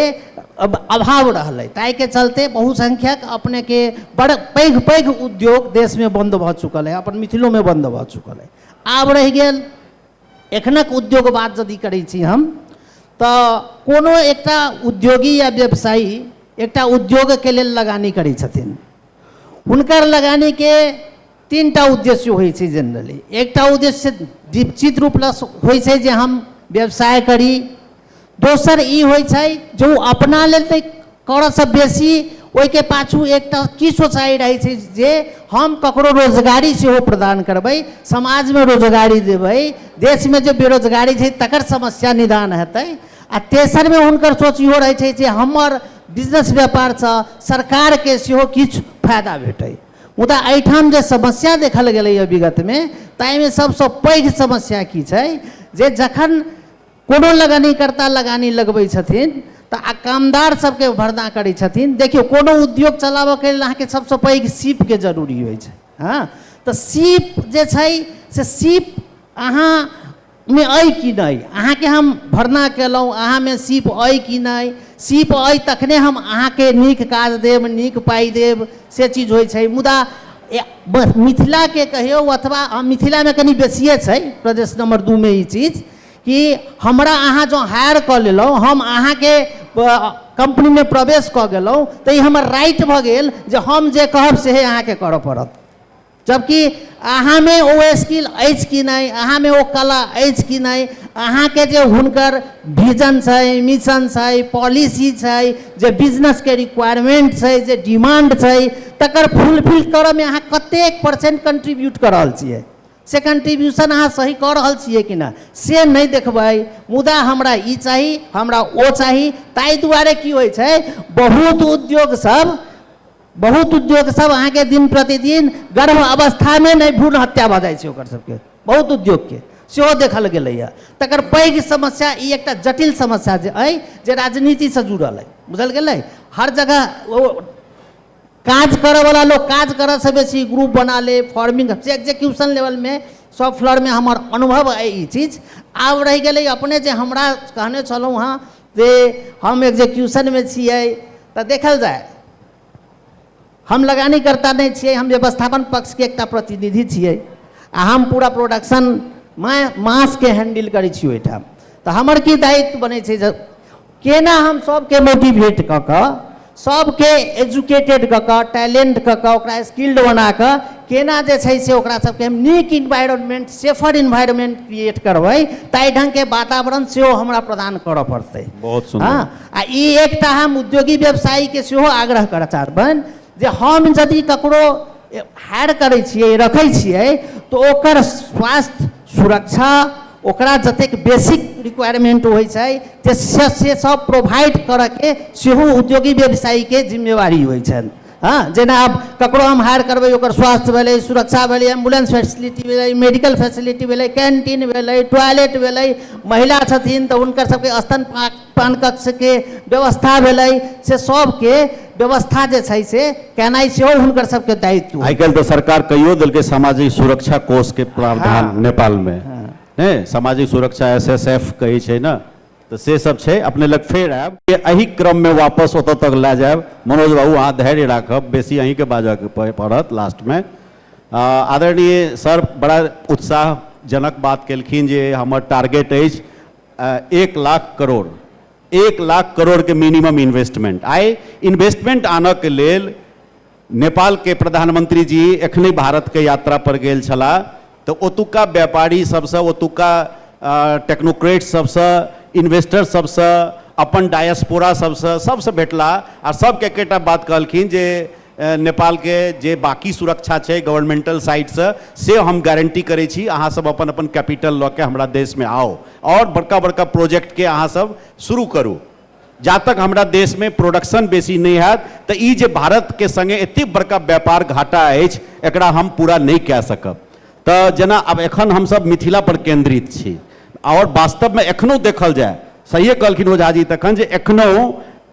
अभाव रहलै ताहिके चलते बहुसंख्यक अपनेके बड़ पैघ पैघ उद्योग देशमे बन्द भऽ चुकल अइ अपन मिथिलोमे बन्द भऽ चुकल अइ आब रहि गेल एखनक उद्योग बात यदि करै छी हम तऽ कोनो एकटा उद्योगी या व्यवसायी एकटा उद्योगके लेल लगानी करै छथिन हुनकर लगानीके तीनटा उद्देश्य होइ छै जेनरली एकटा उद्देश्य दीपचित रूप लऽ होइ छै जे हम व्यवसाय करी दोसर ई होइ छै जे ओ अपना लेल तऽ करऽसँ बेसी ओहिके पाछू एकटा की सोचाइ रहै छै जे हम ककरो रोजगारी सेहो प्रदान करबै समाजमे रोजगारी देबै देशमे जे बेरोजगारी छै तकर समस्या निदान हेतै आ तेसरमे हुनकर सोच इहो रहै छै जे हमर बिजनेस व्यापारसँ सरकारके सेहो किछु फायदा भेटै मुदा एहिठाम जे समस्या देखल गेलैए विगतमे ताहिमे सभसँ पैघ समस्या की छै जे जखन कोनो लगानीकर्ता लगानी लगबै छथिन तऽ आ कामदार सभके भरना करै छथिन देखियौ कोनो उद्योग चलाबऽके लेल अहाँके सभसँ पैघ सीपके जरूरी होइ छै हँ तऽ सीप जे छै से सीप अहाँ मे अइ कि नहि अहाँके हम भरना केलहुँ अहाँमे सीप अइ कि नहि सीप अइ तखने हम अहाँके नीक काज देब नीक पाइ देब से चीज होइ छै मुदा मिथिलाके कहियौ अथवा मिथिलामे कनि बेसिए छै प्रदेश नम्बर दू मे ई चीज कि हमरा अहाँ जँ हायर कऽ लेलहुँ हम अहाँके कम्पनीमे प्रवेश कऽ गेलहुँ तऽ ई हमर राइट भऽ गेल जे हम जे कहब सेहे अहाँके करय पड़त जबकि अहाँमे ओ स्किल अछि कि नहि अहाँमे ओ कला अछि कि नहि अहाँके जे हुनकर विजन छै मिशन छै पॉलिसी छै जे बिजनेसके रिक्वायरमेंट छै जे डिमांड छै तकर फुलफिल करऽमे अहाँ कतेक परसेंट कंट्रीब्यूट कऽ रहल छियै से कंट्रीब्यूशन अहाँ सही कऽ रहल छियै कि नहि से नहि देखबै मुदा हमरा ई चाही हमरा ओ चाही ताहि दुआरे की होइ छै बहुत उद्योग सब बहुत उद्योग सब अहाँ के दिन प्रतिदिन गर्भ अवस्था में नहीं भ्रूण हत्या भ जाए ओकर सब के बहुत उद्योग के सेहो देखल गेल है तकर पैघ समस्या ई एकटा जटिल समस्या जे अइ जे राजनीति से जुड़ल है बुझल गेल हर जगह काज करे वाला लोग काज करे से बेसी ग्रुप बना ले फॉर्मिंग से एग्जीक्यूशन लेवल में सब फ्लोर में हमार अनुभव है ये चीज आब रह गए अपने जे हमरा कहने छलहुँ हाँ जे हम एक्जीक्यूशनमे छियै तऽ देखल जाय हम लगानीकर्ता नहि छियै हम व्यवस्थापन पक्षके एकटा प्रतिनिधि छियै आ हम पूरा प्रोडक्शन माय मासके हैंडल करै छी ओहिठाम तऽ हमर की दायित्व बनै छै जे केना हम सभके मोटिवेट कऽ कऽ सभके एजुकेटेड कऽ कऽ टैलेंट कऽ कऽ ओकरा स्किल्ड बना कऽ केना जे छै से ओकरा सभके हम नीक इन्वायरमेंट सेफर इन्वायरमेंट क्रिएट करबै ताहि ढङ्गके वातावरण सेहो हमरा प्रदान करऽ पड़तै बहुत सुन्दर। हँ आ ई एकटा हम उद्योगी व्यवसायीके सेहो आग्रह करऽ चाहबनि जे हम यदि ककरो हायर करै छियै रखै छियै तऽ ओकर स्वास्थ्य सुरक्षा ओकरा जतेक बेसिक रिक्वायरमेंट होइ छै जे से से सब प्रोवाइड करऽके सेहो उद्योगी व्यवसायीके जिम्मेवारी होइ छनि हँ जेना आब ककरो हम हायर करबै ओकर स्वास्थ्य भेलै सुरक्षा भेलै एम्बुलेंस फैसिलिटी भेलै मेडिकल फैसिलिटी भेलै कैंटीन भेलै टॉयलेट भेलै महिला छथिन तऽ हुनकर सबके स्तनपान पान कक्षके व्यवस्था भेलै से सबके व्यवस्था जे छै से केनाइ सेहो हुनकर सबके दायित्व आइ काल्हि तऽ सरकार कहियो देलकै सामाजिक सुरक्षा कोषके प्रावधान हाँ। नेपालमे हाँ। ने सामाजिक सुरक्षा एस एस एफ कहै छै ने तऽ से सब छै अपने लग फेर आयब एहि क्रममे वापस ओतऽ तक लए जायब मनोज बाबू अहाँ धैर्य राखब बेसी अहीँके बाजऽके पड़त लास्टमे आदरणीय सर बड़ा उत्साहजनक बात केलखिन जे हमर टारगेट अछि एक लाख करोड़ एक लाख करोड़ के मिनिमम इन्वेस्टमेंट आइ इन्वेस्टमेंट आनऽ के लेल नेपाल के प्रधानमंत्री जी एखने भारत के यात्रा पर गेल छला तो ओतुका व्यापारी सबसे ओतुका टेक्नोक्रेट सबसे इन्वेस्टर सबसे अपन डायस्पोरा सबसे सबसे भेटला आ सबके एकेटा बात कहलखिन जे नेपाल के जे बाकी सुरक्षा छै गवर्नमेंटल साइड स से हम गारंटी करै छी अहाँ सब अपन अपन कैपिटल ल के हमरा देश में आउ और बड़का बड़का प्रोजेक्ट के अहाँ सब शुरू करू जा तक हमरा देश में प्रोडक्शन बेसी नै हैत त ई जे भारत के संगे एते बड़का व्यापार घाटा अछि एकरा हम पूरा नै कै सकब त जेना आब एखन हम सब मिथिला पर केंद्रित छी और वास्तव में एखनो देखल जाय सहिए कहलखिन ओझा जी तखन जे एखनो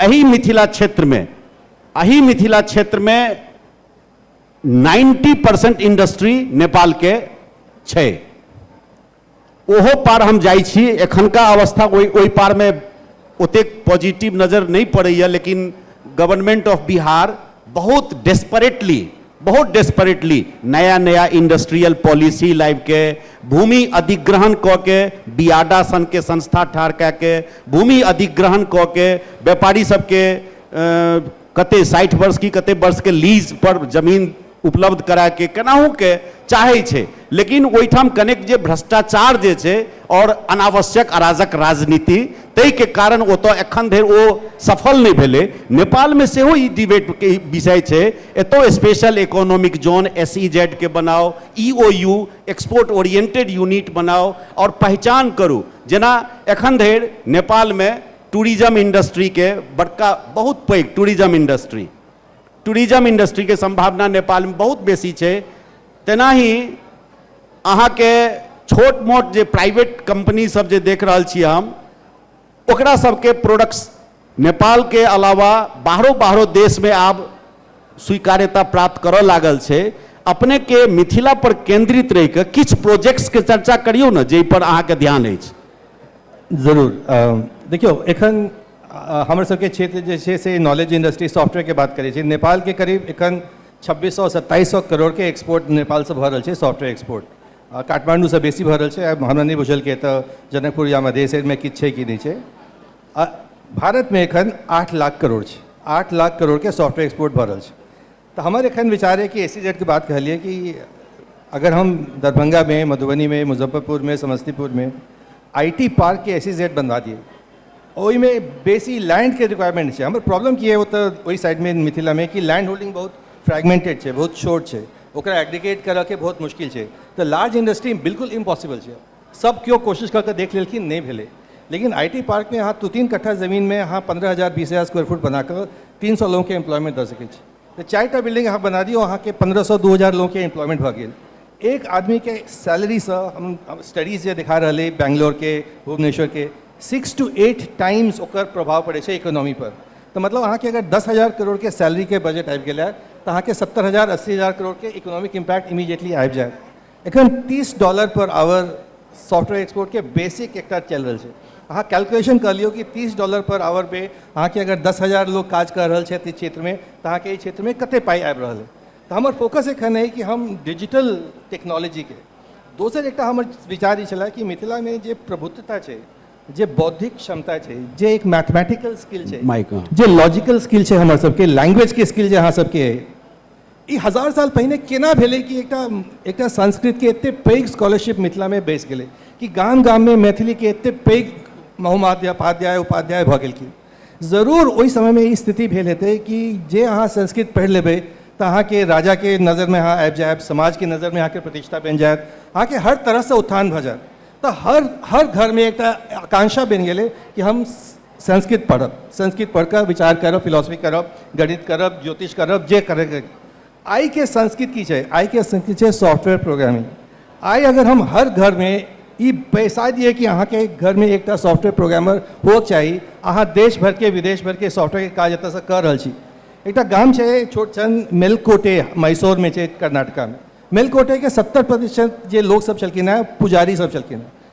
एही मिथिला क्षेत्र में अही मिथिला क्षेत्र में नाइन्टी परसेंट इंडस्ट्री नेपाल के छै ओहो पार हम जाइ छी एखनका अवस्था ओहि ओहि पार में ओतेक पॉजिटिव नजर नहीं पड़ैए लेकिन गवर्नमेंट ऑफ बिहार बहुत डेस्परेटली बहुत डेस्परेटली नया नया इंडस्ट्रियल पॉलिसी लाबि के भूमि अधिग्रहण कऽ के बियाडा सन के संस्था ठाढ़ कए के भूमि अधिग्रहण कऽ के व्यापारी सबके कतेक साठि वर्ष की कतेक वर्षके लीज पर जमीन उपलब्ध कराके केनाहूके चाहै छै लेकिन ओहिठाम कनेक जे भ्रष्टाचार जे छै आओर अनावश्यक अराजक राजनीति ताहिके कारण ओतऽ एखन धरि ओ सफल नहि भेलै नेपालमे सेहो ई डिबेटके विषय छै एतौ special economic zone S E जेडके बनाउ E O U export oriented unit बनाउ आओर पहचान करू जेना एखन धरि नेपालमे टूरिज्म इंडस्ट्रीके बड़का बहुत पैघ टूरिज्म इंडस्ट्री टूरिज्म इंडस्ट्रीके सम्भावना नेपालमे बहुत बेसी छै तेनाही अहाँके छोट मोट जे प्राइवेट कंपनी सब जे देख रहल छी हम ओकरा सबके प्रोडक्ट्स नेपालके अलावा बाहरो बाहरो देशमे आब स्वीकार्यता प्राप्त करऽ लागल छै अपनेके मिथिला पर केंद्रित रहिके किछु प्रोजेक्ट्सके चर्चा करियौ ने जाहि पर अहाँके ध्यान अछि जरूर देखियौ एखन हमर सबके क्षेत्र जे छै से नॉलेज इंडस्ट्री सॉफ्टवेयर के बात करै छी नेपाल के करीब एखन 2600 से 2700 करोड़ के एक्सपोर्ट नेपाल से भऽ रहल छै सॉफ्टवेयर एक्सपोर्ट आ, काठमांडू से बेसी भऽ रहल छै आब हमरा नहि बुझल के तऽ जनकपुर या मधेश में किछु छै कि नहि छै आ, भारत में एखन आठ लाख करोड़ छै आठ लाख करोड़ के सॉफ्टवेयर एक्सपोर्ट भऽ रहल छै तऽ हमर एखन विचार यऽ कि एस ई जेड के बात कहलियै कि अगर हम दरभंगा में मधुबनी में मुजफ्फरपुर में समस्तीपुर में आई टी पार्क के एस ई जेड बनवा दियै ओहिमे बेसी लैंड के रिक्वायरमेंट छै हमर प्रॉब्लम की है ओतऽ ओहि साइड में मिथिला में कि लैंड होल्डिंग बहुत फ्रेगमेंटेड छै बहुत छोट छै ओकरा एग्रीगेट करऽ के बहुत मुश्किल छै तऽ लार्ज इंडस्ट्री बिल्कुल इम्पॉसिबल छै सब क्यो कोशिश कऽ कऽ देख लेलखिन नहि भेलै लेकिन आई टी पार्कमे अहाँ दू तीन कट्ठा जमीनमे अहाँ पन्द्रह हजार बीस हजार स्क्वायर फुट बना कऽ तीन सए लोगके एम्प्लॉयमेंट दऽ सकै छी तऽ चारि टा बिल्डिंग अहाँ बना दियौ अहाँके पन्द्रह सए दू हजार लोगके एम्प्लॉयमेंट भऽ गेल एक आदमीके सैलरीसँ हम स्टडीज जे देखा रहलै बैंगलोरके भुवनेश्वरके सिक्स टू एट टाइम्स ओकर प्रभाव पड़ै छै इकोनॉमी पर तऽ मतलब अहाँके अगर दस हजार करोड़के सैलरीके बजट आबि गेलै तऽ अहाँके सत्तर हजार अस्सी हजार करोड़के इकोनॉमिक इम्पैक्ट इमीडिएटली आबि जायत एखन 30 dollar per hour software export के बेसिक एकटा चल रहल छै अहाँ कैलकुलेशन कर लियो कि 30 डॉलर पर आवर पे अहाँ के अगर 10000 लोग काज कर रहल छै क्षेत्र में तो अहाँ के ई क्षेत्र में कते पाई आबि रहल है तो हमर फोकस एखन है कि हम डिजिटल टेक्नोलॉजी के दोसर एकटा हमर विचार ई छला कि मिथिला में जे प्रभुत्वता छै जे बौद्धिक क्षमता छै जे एक मैथमेटिकल स्किल छै जे लॉजिकल स्किल छै हमर सबके लैंग्वेज के स्किल जे अहाँ सबके ई हजार साल पहिने केना भेलै कि एकटा एकटा संस्कृतके एतेक पैघ स्कॉलरशिप मिथिलामे बैसि गेलै कि गाम गाममे मैथिलीके एतेक पैघ महोपाध्याय उपाध्याय भऽ गेलखिन जरूर ओहि समयमे ई स्थिति भेल हेतै कि जे अहाँ संस्कृत पढ़ि लेबै तऽ अहाँके राजाके नजरमे अहाँ आबि जायब समाजके नजरमे अहाँके प्रतिष्ठा बनि जायत अहाँके हर तरहसँ उत्थान भऽ जायत तऽ हर हर घरमे एकटा आकांक्षा बनि गेलै कि हम संस्कृत पढ़ब संस्कृत पढ़ि कऽ विचार करब फिलॉसफी करब गणित करब ज्योतिष करब जे करैके आइके संस्कृत की छै आइके संस्कृत छै सॉफ्टवेयर प्रोग्रामिंग आइ अगर हम हर घरमे ई पैसा दिए कि अहाँके घरमे एकटा सॉफ्टवेयर प्रोग्रामर होके चाही अहाँ देश भरिके विदेश भरिके सॉफ्टवेयरके काज एतऽसँ कऽ रहल छी एकटा गाम छै छोट छन मेलकोटे मैसूरमे छै कर्नाटकामे मेलकोटेके सत्तर प्रतिशत जे लोकसभ छलखिन हँ पुजारी सभ छलखिन हँ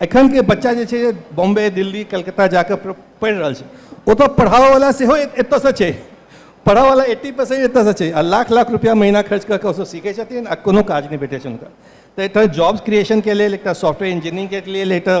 एखनके बच्चा जे छै बॉम्बे दिल्ली कलकत्ता जाकऽ पढ़ि रहल छै ओतऽ पढ़ाबऽवला सेहो एतऽसँ छै पढ़ाबऽवला एट्टी परसेंट एतऽसँ छै आ लाख लाख रुपैआ महीना खर्च कऽ कऽ ओसभ सीखै छथिन आ कोनो काज नहि भेटै छनि हुनका तऽ एकटा जॉब्स क्रिएशनके लेल एकटा सॉफ्टवेयर इंजीनियरिंगके लेल एकटा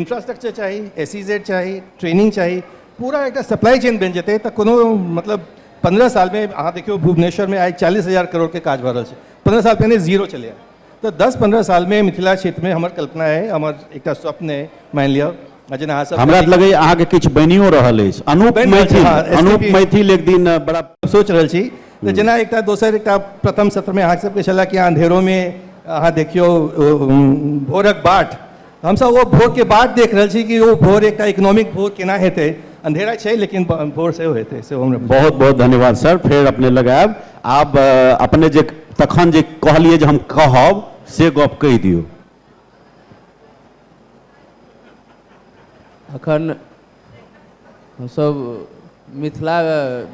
इंफ्रास्ट्रक्चर चाही ए सी जेड चाही ट्रेनिंग चाही पूरा एकटा सप्लाई चेन बनि जेतै तऽ कोनो मतलब पन्द्रह सालमे अहाँ देखियौ भुवनेश्वरमे आइ चालीस हजार करोड़के काज भऽ रहल छै पन्द्रह साल पहिने जीरो छलैए तऽ दस पन्द्रह सालमे मिथिला क्षेत्रमे हमर कल्पना अइ हमर एकटा स्वप्न अइ मानि लिअ आ जेना अहाँ सब हमरा तऽ लगैए अहाँके किछु बनियो रहल अछि अनूप बनि रहल छै, मैथिल हँ, अनूप STP मैथिल एक दिन बड़ा सोचि रहल छी तऽ जेना एकटा दोसर एकटा प्रथम सत्रमे अहाँ सबके छलए कि अहाँ अन्धेरोमे अहाँ देखियौ ओ, उम, भोरक बाट हमसब ओ भोर के बाट देख रहल छी कि ओ भोर एकटा इकोनॉमिक भोर केना हेतै अंधेरा छै लेकिन भोर सेहो हेतै सेहो हमरा बहुत बहुत धन्यवाद सर फेर अपने लग आयब आब अ, अपने जे तखन जे कहलियै जे हम कहब से गप कहि दियौ अखन हमसभ मिथिला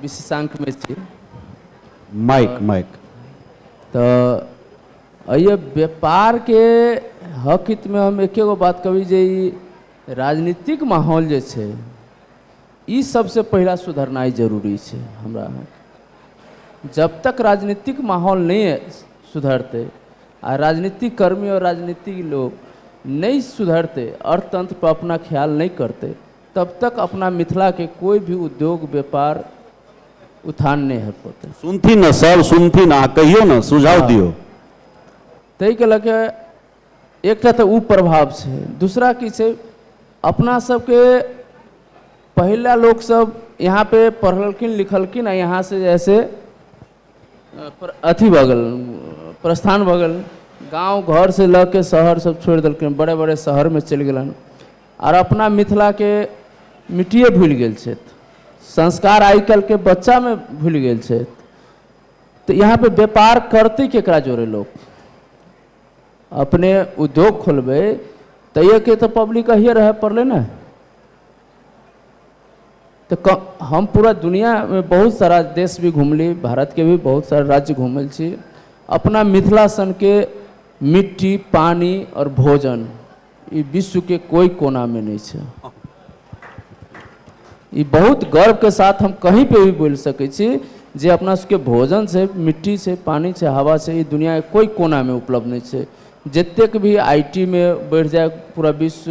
विशेषांकमे छी माइक माइक तऽ एहि व्यापारके हक हितमे हम एके गो बात कहबी जे ई राजनीतिक माहौल जे छै ई सबसे पहिला सुधरनाइ जरूरी छै हमरा अहाँके जब तक राजनीतिक माहौल नहि सुधरतै आ राजनीतिक कर्मी आओर राजनीतिक लोक नहि सुधरतै अर्थतंत्र पर अपना ख्याल नहि करतै तब तक अपना मिथिला के कोई भी उद्योग व्यापार उत्थान नहि हेत पौतै सुनथिन ने सब सुनथिन अहाँ कहियौ ने सुझाव दियौ ताहि के लऽ के एकटा तऽ ओ प्रभाव छै दूसरा की छै अपना सबके पहिला लोक सब यहाँ पे पढ़लखिन लिखलखिन आ यहाँ से जैसे अथी भऽ गेल प्रस्थान भऽ गेल गाँव घर से लऽ के शहर सब छोड़ि देलखिन बड़े बड़े शहर मे चलि गेलनि आर अपना मिथिला के मिट्टिए भूलि गेल छथि संस्कार आइ काल्हि के बच्चा मे भूलि गेल छथि तऽ यहाँ पे व्यापार करतै केकरा जोड़े लोक अपने उद्योग खोलबै तैयो के तऽ पब्लिक अहिये रहय पड़लै ने तऽ क हम पूरा दुनिआँमे बहुत सारा देश भी घुमली भारतके भी बहुत सारा राज्य घुमल छी अपना मिथिला सनके मिट्टी पानि आओर भोजन ई विश्वके कोइ कोनामे नहि छै ई बहुत गर्वके साथ हम कहीँ पे भी बोलि सकै छी जे अपना सबके भोजन छै मिट्टी छै पानि छै हवा छै ई दुनिआँके कोइ कोनामे उपलब्ध नहि छै जतेक भी आई टी मे बढ़ि जाय पूरा विश्व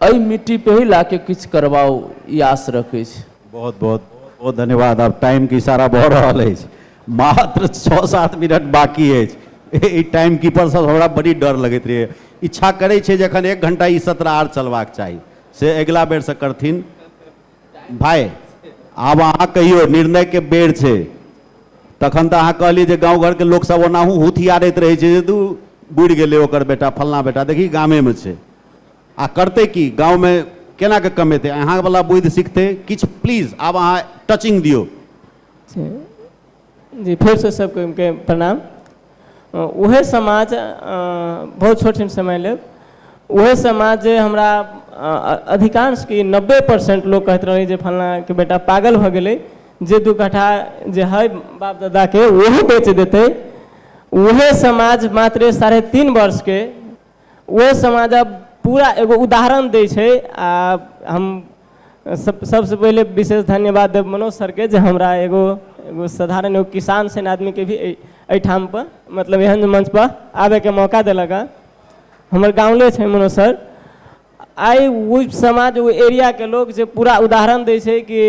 अइ मिट्टी पे ही लाके किछ करवाउ ई आश रखै छी। बहुत बहुत बहुत धन्यवाद आब टाइम के इशारा भऽ रहल अछि मात्र छओ सात मिनट बाकी अछि ई टाइम कीपर सब हमरा बड़ी डर लगैत रहैया इच्छा करै छै जे एखन एक घण्टा ई सत्र आर चलबाक चाही से अगिला बेरसँ करथिन भाय आब अहाँ कहियौ निर्णय के बेर छै तखन तऽ अहाँ कहलियै जे गाँव घरके लोकसभ ओनाहु हुथियारैत रहै छै जे दू बुड़ि गेलै ओकर बेटा फल्लाँ बेटा देखही गामेमे छै आ करतै की गाँवमे केना कऽ कमेतै अहाँवला बुद्धि सीखतै किछु प्लीज आब अहाँ टचिंग दियौ जी फेरसँ सभके प्रणाम उहे समाज बहुत छोट हम समय लेब उहे समाज जे हमरा अधिकांश कि नब्बे परसेंट लोक कहैत रहलै जे फलनाके बेटा पागल भऽ गेलै जे दू कट्ठा जे है बाप दादाके ओहो बेच देतै उहे समाज मात्र साढ़े तीन वर्षके ओहि समाजक पूरा एगो उदाहरण दै छै आ हम सब सबसँ पहिले विशेष धन्यवाद देब मनोज सरके जे हमरा एगो एगो साधारण एगो किसान सन आदमीके भी एहि एहिठाम पर मतलब एहन मंच पर आबयके मौका देलक हँ हमर गावँले छै मनोज सर आइ ओहि समाज ओहि एरियाके लोक जे पूरा उदाहरण दै छै कि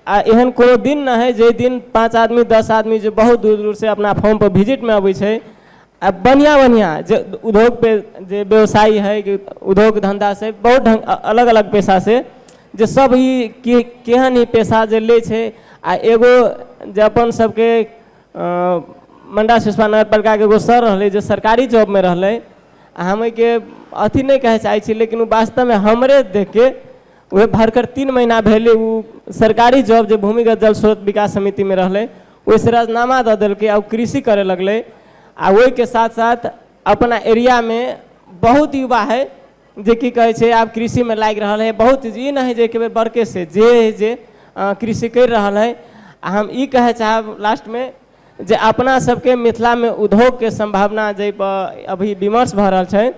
आ एहन कोनो दिन नहि हइ जाहि दिन पाँच आदमी दस आदमी जे बहुत दूर दूरसँ अपना फॉर्मपर विजिटमे अबै छै आ बढ़िआँ बढ़िआँ जे उद्योगके जे व्यवसायी हइ कि उद्योग धन्धासँ बहुत ढङ्ग अ- अलग अलग पेशासँ जे सब ई के केहन ई पेशा जे लै छै आ एगो जे अपन सबके अ, मंडा सिसवा नगर पालिकाके एगो सर रहलै जे सरकारी जॉबमे रहलै आ हम एहिके अथी नहि कहय चाहैत छी लेकिन ओ वास्तवमे हमरे देखिके उएह भरखर तीन महीना भेलै ओ सरकारी जॉब जे भूमिगत जल स्रोत विकास समितिमे रहलै ओहिसँ राजनामा दऽ देलकै आ ओ कृषि करय लगलै आ ओहिके साथ साथ अपना एरियामे बहुत युवा हइ जे की कहै छै आब कृषिमे लागि रहल हइ बहुत चीज ई नहि हइ जे एके बेर बड़केसँ जे हइ जे कृषि करि रहल हइ आ हम ई कहय चाहब लास्टमे जे अपना सबके मिथिलामे उद्योगके सम्भावना जाहिपर अभी विमर्श भऽ रहल छै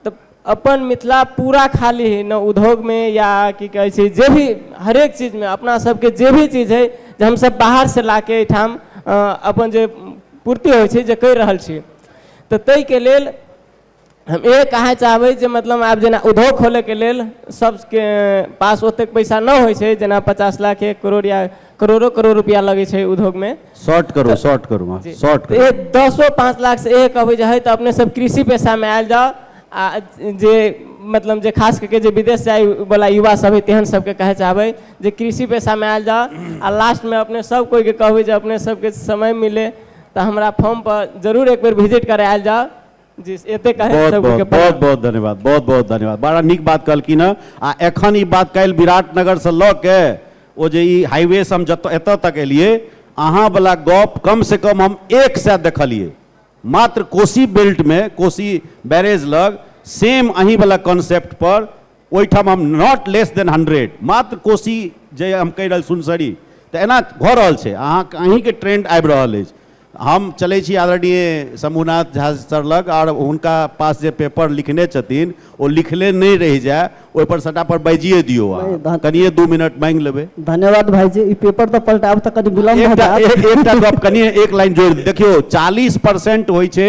तऽ अपन मिथिला पूरा खाली हइ ने उद्योगमे या की कहै छै जे भी हरेक चीजमे अपना सबके जे भी चीज हइ जे हमसब बाहरसँ लाके एहिठाम अपन जे पूर्ति होइ छै जे करि रहल छी तऽ ताहिके लेल हम इह कहय चाहबै जे मतलब आब जेना उद्योग खोलयके लेल सभके पास ओतेक पैसा नहि होइ छै जेना पचास लाख एक करोड़ या करोड़ो करोड़ रुपैआ लगै छै उद्योगमे शॉर्ट करू शॉर्ट करू अहाँ शॉर्ट करू एक दसो पाँच लाखसँ इएह कहबै जे हइ तऽ अपने सब कृषि पेशामे आयल जाउ आ जे मतलब जे खास कऽ के जे विदेश जायवला युवा सब हइ तेहन सबके कहय चाहबै जे कृषि पेशामे आयल जाउ आ लास्टमे अपने सब कोइके कहबै जे अपने सबके समय मिलै तऽ हमरा फॉर्मपर जरूर एक बेर विजिट करय आयल जाउ जी एते कहे बहुत सब बहुत के बहुत प्रणाम। बहुत धन्यवाद बहुत बहुत धन्यवाद बड़ा नीक बात कहलखिन हँ आ एखन ई बात काल्हि विराटनगरसँ लऽ के ओ जे ई हाईवे से हम जत एतऽ तक एलियै अहाँवला गप कमसँ कम हम एक सए देखलियै मात्र कोसी बेल्टमे कोसी बैरेज लग सेम अहीँवला कॉन्सेप्ट पर ओहिठाम हम नॉट लेस देन हंड्रेड मात्र कोसी जे हम कहि रहल सुनसरी तऽ एना भऽ रहल छै अहाँके अहीँके ट्रेंड आबि रहल अछि हम चलै छी आदरणीय शंभुनाथ झा सर लग आओर हुनका पास जे पेपर लिखने छथिन ओ लिखले नहि रहि जाय ओहिपर सटा पर बाजिए दियौ अहाँ नहि, धन- कनिए दू मिनट मांगि लेबै धन्यवाद भाईजी ई पेपर तऽ पलटाब तऽ कनि विलम्ब भऽ एकटा जायत। एक- एकटा गप कनिए एक लाइन जोड़ि दियौ। देखियौ चालीस परसेंट होइ छै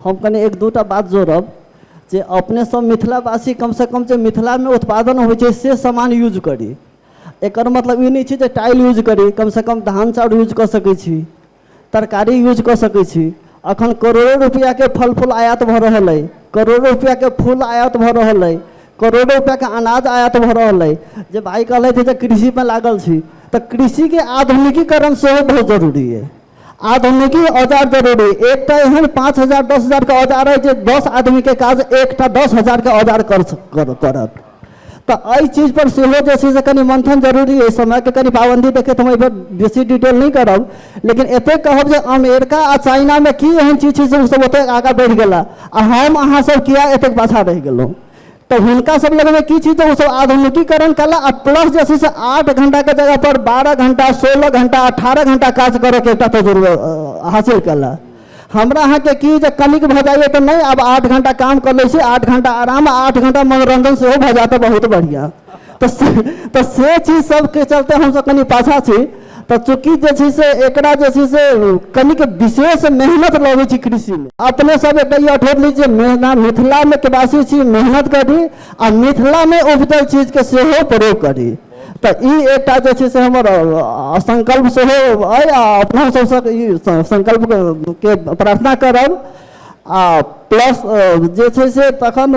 हम कनि एक दूटा बात जोड़ब जे अपने सब मिथिलावासी कम से कम जे मिथिला मे उत्पादन होइ छै से समान यूज करी एकर मतलब ई नहि छै जे टाइल यूज करी कम से कम धान चाउर यूज कऽ सकै छी तरकारी यूज कऽ सकै छी अखन करोड़ो रुपैआ के फल फूल आयात भऽ रहल अइ करोड़ो रुपैआ के फूल आयात भऽ रहल अइ करोड़ो रुपैआ के अनाज आयात भऽ रहल अइ जे भाइ कहलथि जे कृषि मे लागल छी तऽ कृषि के आधुनिकीकरण सेहो बहुत जरूरी अइ आधुनिकी औजार जरूरी एकटा एहन पाँच हजार दस हजारके औजार अइ जे दस आदमीके काज एकटा दस हजारके औजार कर करत तऽ एहि चीजपर सेहो जे छै से कनि मंथन जरूरी अइ समयके कनि पाबन्दी देखैत हम एहिपर बेसी डिटेल नहि करब लेकिन एतेक कहब जे अमेरिका आ चाइनामे की एहन चीज छै जे ओसभ ओतेक आगाँ बढ़ि गेला आ हम अहाँसभ किया एतेक पाछाँ रहि गेलहुँ तऽ हुनका सब लगमे की छै जे ओ सब आधुनिकीकरण कला आ प्लस जे छै से आठ घंटाके जगह पर बारह घंटा सोलह घंटा अठारह घंटा काज करैके एकटा तजुर्बा हासिल कला हमरा अहाँके की जे कनिक भऽ जाइए तऽ नहि आब आठ घंटा काम कऽ लै छी आठ घंटा आराम आठ घंटा मनोरंजन सेहो भऽ जायत तऽ बहुत बढ़िआँ तऽ से चीज सबके चलते हमसब कनि पाछा छी तऽ चूँकि जे छै से एकरा जे छै से कनिक विशेष मेहनत लगै छै कृषिमे अपने सब एकटा ई अठोर ली जे मेहनत मिथिलामे के वासी छी मेहनत करी आ मिथिलामे उपजल चीजके सेहो प्रयोग करी तऽ ई एकटा जे छै से हमर संकल्प सेहो अइ आ अपना सबसँ ई संकल्पके प्रार्थना करब आ प्लस जे छै से तखन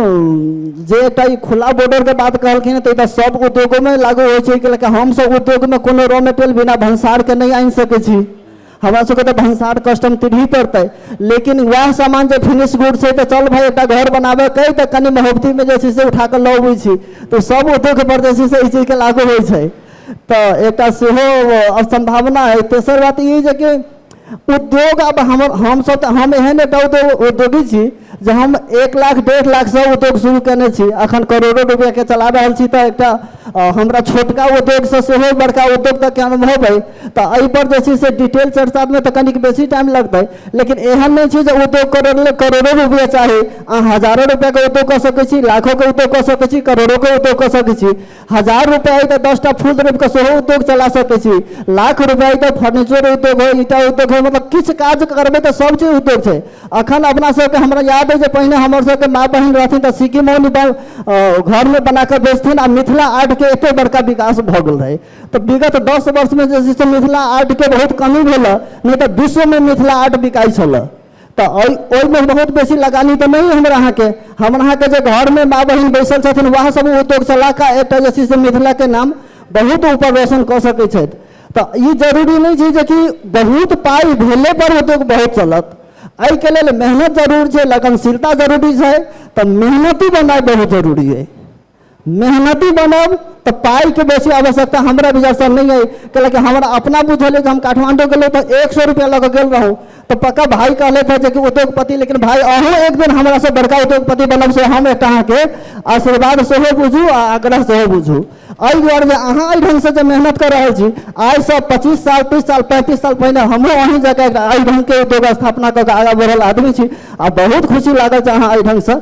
जे एकटा ई खुला बॉर्डर के बात कहलखिन तऽ ई तऽ सब उद्योगो मे लागू होइ छै कि ल हम सब उद्योग मे कोनो रॉ मेटेरियल बिना भनसार के नहि आनि सकै छी हमरा सबके तऽ भनसार कस्टम तिरही पड़तै लेकिन वएह सामान जे फिनिश गुड छै तऽ चल भाय एकटा घर बनाबे के तऽ कनि महोबती मे जे छै से उठा कऽ लऽ अबै छी तऽ सब उद्योग पर जे छै से ई चीज के लागू होइ छै तऽ एकटा सेहो सम्भावना अइ तेसर बात ई जे कि उद्योग आब हम हमसभ तऽ हम एहन एकटा उद्योग उद्योगी छी जे हम एक लाख डेढ़ लाखसँ उद्योग शुरू कयने छी एखन करोड़ो रुपैआके चला रहल छी तऽ एकटा हमरा छोटका उद्योगसँ सेहो बड़का उद्योग तक के अनुभव अइ तऽ एहिपर जे छै से डिटेल चर्चामे तऽ कनिक बेसी टाइम लगतै लेकिन एहन नहि छै जे उद्योग करय लेल करोड़ो रुपैआ चाही अहाँ हजारो रुपैआके उद्योग कऽ सकै छी लाखोके उद्योग कऽ सकै छी करोड़ोके उद्योग कऽ सकै छी हजार रुपैआ अइ तऽ दसटा फूल रोपिकऽ सेहो उद्योग चला सकै छी लाख रुपैआ अइ तऽ फर्नीचर उद्योग होइ ईटा उद्योग होइ मतलब किछु काज करबै तऽ सब चीज उद्योग छै अखन अपना सबके हमरा याद अइ जे पहिने हमर सबके माँ बहिन रहथिन तऽ सिक्की मौनी घरमे बनाकऽ बेचथिन आ मिथिला आर्टके एतेक बड़का विकास भऽ गेल रहै तऽ विगत दस वर्षमे जे छै से मिथिला आर्टके बहुत कमी भेल हँ नहि तऽ विश्वमे मिथिला आर्ट बिकाइ छलै तऽ ओहि ओहिमे बहुत बेसी लगानी तऽ नहि हमरा अहाँके हमरा अहाँके जे घरमे माँ बहिन बैसल छथिन वएह सब उद्योग चलाके एतऽ जे छै से मिथिलाके नाम बहुत ऊपर रोशन कऽ सकै छथि तऽ ई जरूरी नहि छै जेकि बहुत पाइ भेले पर उद्योग बहुत चलत एहिके लेल मेहनत जरूर छै लगनशीलता जरूरी छै तऽ मेहनति बनाइ बहुत जरूरी अइ मेहनती बनब तऽ पाइके बेसी आवश्यकता हमरा विचारसँ नहि अइ कैलाकि हमरा अपना बुझल अइ जे हम काठमाण्डू गेलहुँ तऽ एक सए रुपैआ लऽ कऽ गेल रहौं तऽ पक्का भाय कहलथि हँ जे कि उद्योगपति लेकिन भाय अहूँ एक दिन हमरासँ बड़का उद्योगपति बनब से हम एकटा अहाँके आशीर्वाद सेहो बुझू आ आग्रह सेहो बुझू एहि दुआरे जे अहाँ एहि ढङ्गसँ जे मेहनत कऽ रहल छी आइसँ पच्चीस साल तीस साल पैंतीस साल पहिने हमहूँ अहीं जकाँ एकटा एहि ढङ्गके उद्योग स्थापना कऽ कऽ आगाँ बढ़ल आदमी छी आ बहुत खुशी लागल जे अहाँ एहि ढङ्गसँ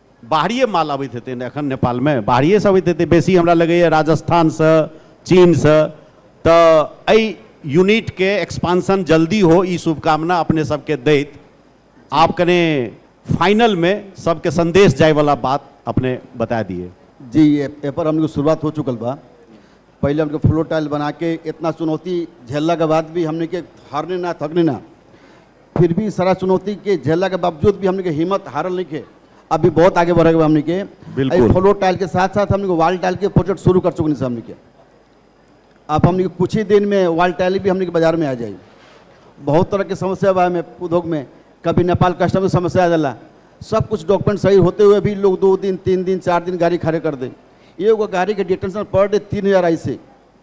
बाहरिये माल अबैत हेतै ने एखन नेपालमे बाहरियेसँ अबैत हेतै बेसी हमरा लगैए राजस्थानसँ चीनसँ तऽ एहि यूनिटके एक्सपांसन जल्दी हो ई शुभकामना अपने सबके दैत आप कने फाइनलमे सबके संदेश जायवला बात अपने बता दिए जी एहिपर हमलोग शुरुआत हो चुकल बा पहिले हमलोग फ्लोर टाइल बनाके इतना चुनौती झेललाके बाद भी हमने के हारने ना थकने ना फिर भी सारा चुनौती के झेलला के बावजूद भी हमने के हिम्मत हारल नहीं के अभी बहुत आगे बढ़े हमने के बिल्कुल। फ्लो टाइल के साथ साथ हमने वाल टाइल के प्रोजेक्ट शुरू कर चुके हैं हमने के अब हमने के कुछ ही दिन में वाल टाइल भी हमने के बाजार में आ जाए बहुत तरह के समस्या बा में उद्योग में कभी नेपाल कस्टम में समस्या आ जाला सब कुछ डॉक्यूमेंट सही होते हुए भी लोग दो दिन तीन दिन चार दिन गाड़ी खड़े कर दे एगो गाड़ी के डिटेंशन पर डे तीन हज़ार ऐसे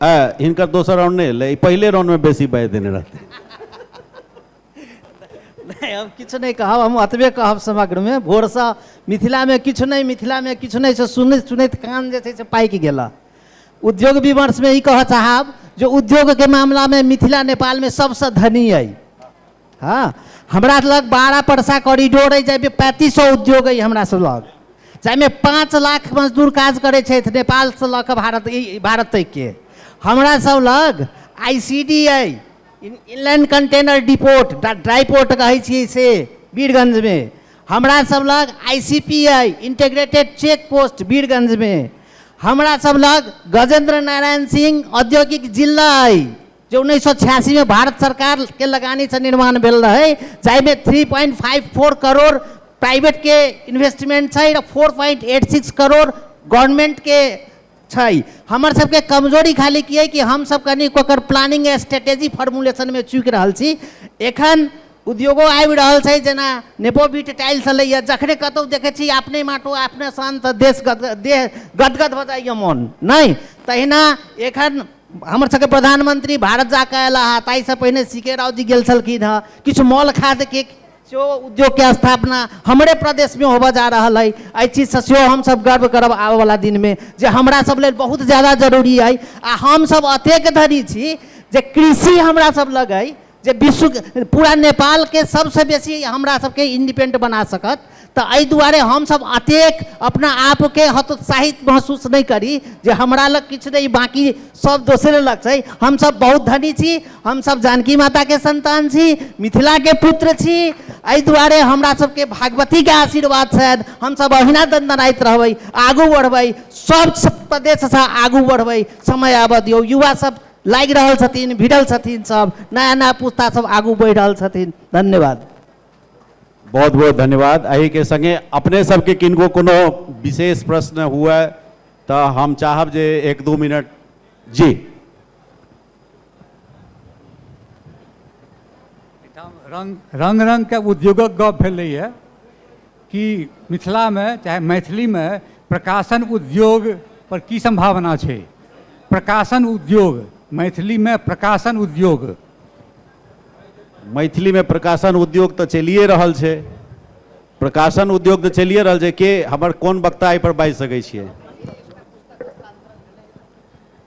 आ हिनकर दोसर राउंड नहि एलै ई पहिले राउंडमे बेसी बाजि देने रहतै नहि हम किछु नहि कहब हम अतबे कहब समग्रमे भोरसँ मिथिलामे किछु नहि मिथिलामे किछु नहि से सुनैत सुनैत कान जे छै से पाकि गेल उद्योग विमर्शमे ई कहऽ चाहब जे उद्योगके मामलामे मिथिला नेपालमे सभसँ धनी अइ हँ हमरा लग बारह परसा कॉरिडोर अइ जाहिमे पैंतीस सए उद्योग अइ हमरा सब लग जाहिमे पाँच लाख मजदूर काज करै छथि नेपालसँ लऽ कऽ भारत ई भारत तकके हमरा सब लग आई सी डी अइ inland container depot dry port कहै छियै से वीरगंजमे हमरा सब लग आई सी पी अइ इंटीग्रेटेड चेक पोस्ट वीरगंजमे हमरा सब लग गजेंद्र नारायण सिंह औद्योगिक जिला अइ जे उन्नैस सए छियासीमे भारत सरकारके लगानीसँ निर्माण भेल रहै जाहिमे three point five four crore प्राइवेटके इन्वेस्टमेंट छै four point eight six crore गवर्नमेंटके छै हमर सबके कमजोरी खाली की अइ कि हमसब कनि ओकर प्लानिंग स्ट्रेटेजी फॉर्मुलेशनमे चूकि रहल छी एखन उद्योगो आबि रहल छै जेना नेपोबिट टाइल्स एलैए जखने कतहु देखै छी अपने माटो अपने शान्त देश गद देह गदगद भऽ जाइए मोन नहि तहिना एखन हमर सबके प्रधानमंत्री भारत जा कऽ अयला हँ ताहिसँ पहिने सी के राव जी गेल छलखिन हँ किछु मॉल खादके सेहो उद्योगके स्थापना हमरे प्रदेशमे होबऽ जा रहल अइ एहि चीजसँ सेहो हमसब गर्व करब आबऽ बला दिनमे जे हमरा सब लेल बहुत जादा जरूरी अइ आ हमसब अतेक धरि छी जे कृषि हमरा सब लग अइ जे विश्वके पूरा नेपालके सबसँ बेसी हमरा सबके इन्डिपेन्डेन्ट बना सकत तऽ एहि दुआरे हमसब अतेक अपना आपके हतोत्साहित महसूस नहि करी जे हमरा लग किछु नहि बाँकी सब दोसरे लग छै हमसब बहुत धनी छी हमसब जानकी माताके सन्तान छी मिथिलाके पुत्र छी एहि दुआरे हमरा सबके भागवतीके आशीर्वाद छनि हमसब अहिना दनदनाइत रहबै आगू बढ़बै सब प्रदेशसँ आगू बढ़बै समय आबऽ दियौ युवा सब लागि रहल छथिन भिड़ल छथिन सब नया नया पुस्ता सब आगू बढ़ि रहल छथिन धन्यवाद बहुत बहुत धन्यवाद अही के संगे अपने सबके किनको कोनो विशेष प्रश्न हुआ तो हम चाहब जे एक दो मिनट जी रंग रंग रंग के उद्योगक गप भेलैए की मिथिलामे चाहे मैथिलीमे प्रकाशन उद्योग पर की सम्भावना छै प्रकाशन उद्योग मैथिलीमे प्रकाशन उद्योग मैथिलीमे प्रकाशन उद्योग तऽ चलिए रहल छै प्रकाशन उद्योग तऽ चलिए रहल छै के हमर कोन वक्ता एहिपर बाजि सकै छियै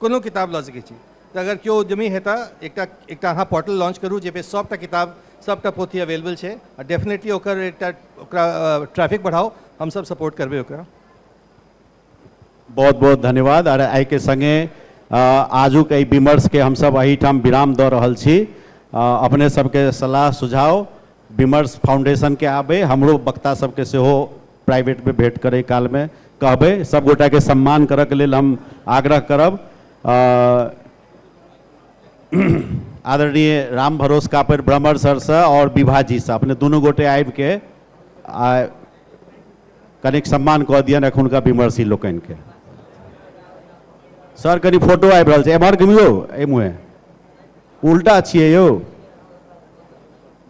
कोनो किताब लऽ सकैत छी तऽ अगर केओ उद्यमी हेता एकटा एकटा अहाँ पोर्टल लॉन्च करू जाहिपर सभटा किताब सभटा पोथी अवेलेबल छै आ डेफिनेटली ओकर एकटा ओकरा ट्रैफिक बढ़ाउ हमसभ सपोर्ट करबै ओकरा बहुत बहुत धन्यवाद आर एहिके सङ्गे आजुक एहि विमर्शके हमसभ एहिठाम विराम दऽ रहल छी अपने सभके सलाह सुझाव विमर्श फाउंडेशनके आबे हमरो वक्ता सभके सेहो प्राइवेट मे भेट करय काल मे कहबय। सब गोटा के सम्मान करय के लेल हम आग्रह करब। आदरणीय राम भरोस कापरि ब्रह्मर सर स और विभा जी स अपने दुनू गोटे आबि के आ कनेक सम्मान क दियनि एखुनका विमर्शी लोकनि के। सर कनी फोटो आबि रहल छै। एमहर घुमियो एहि मुहे। उल्टा छियै यौ।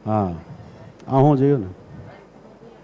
हँ अहूँ जइयौ ने।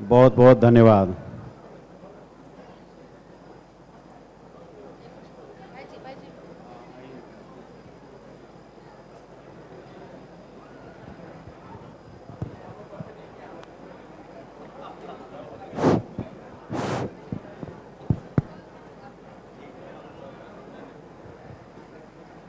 बहुत बहुत धन्यवाद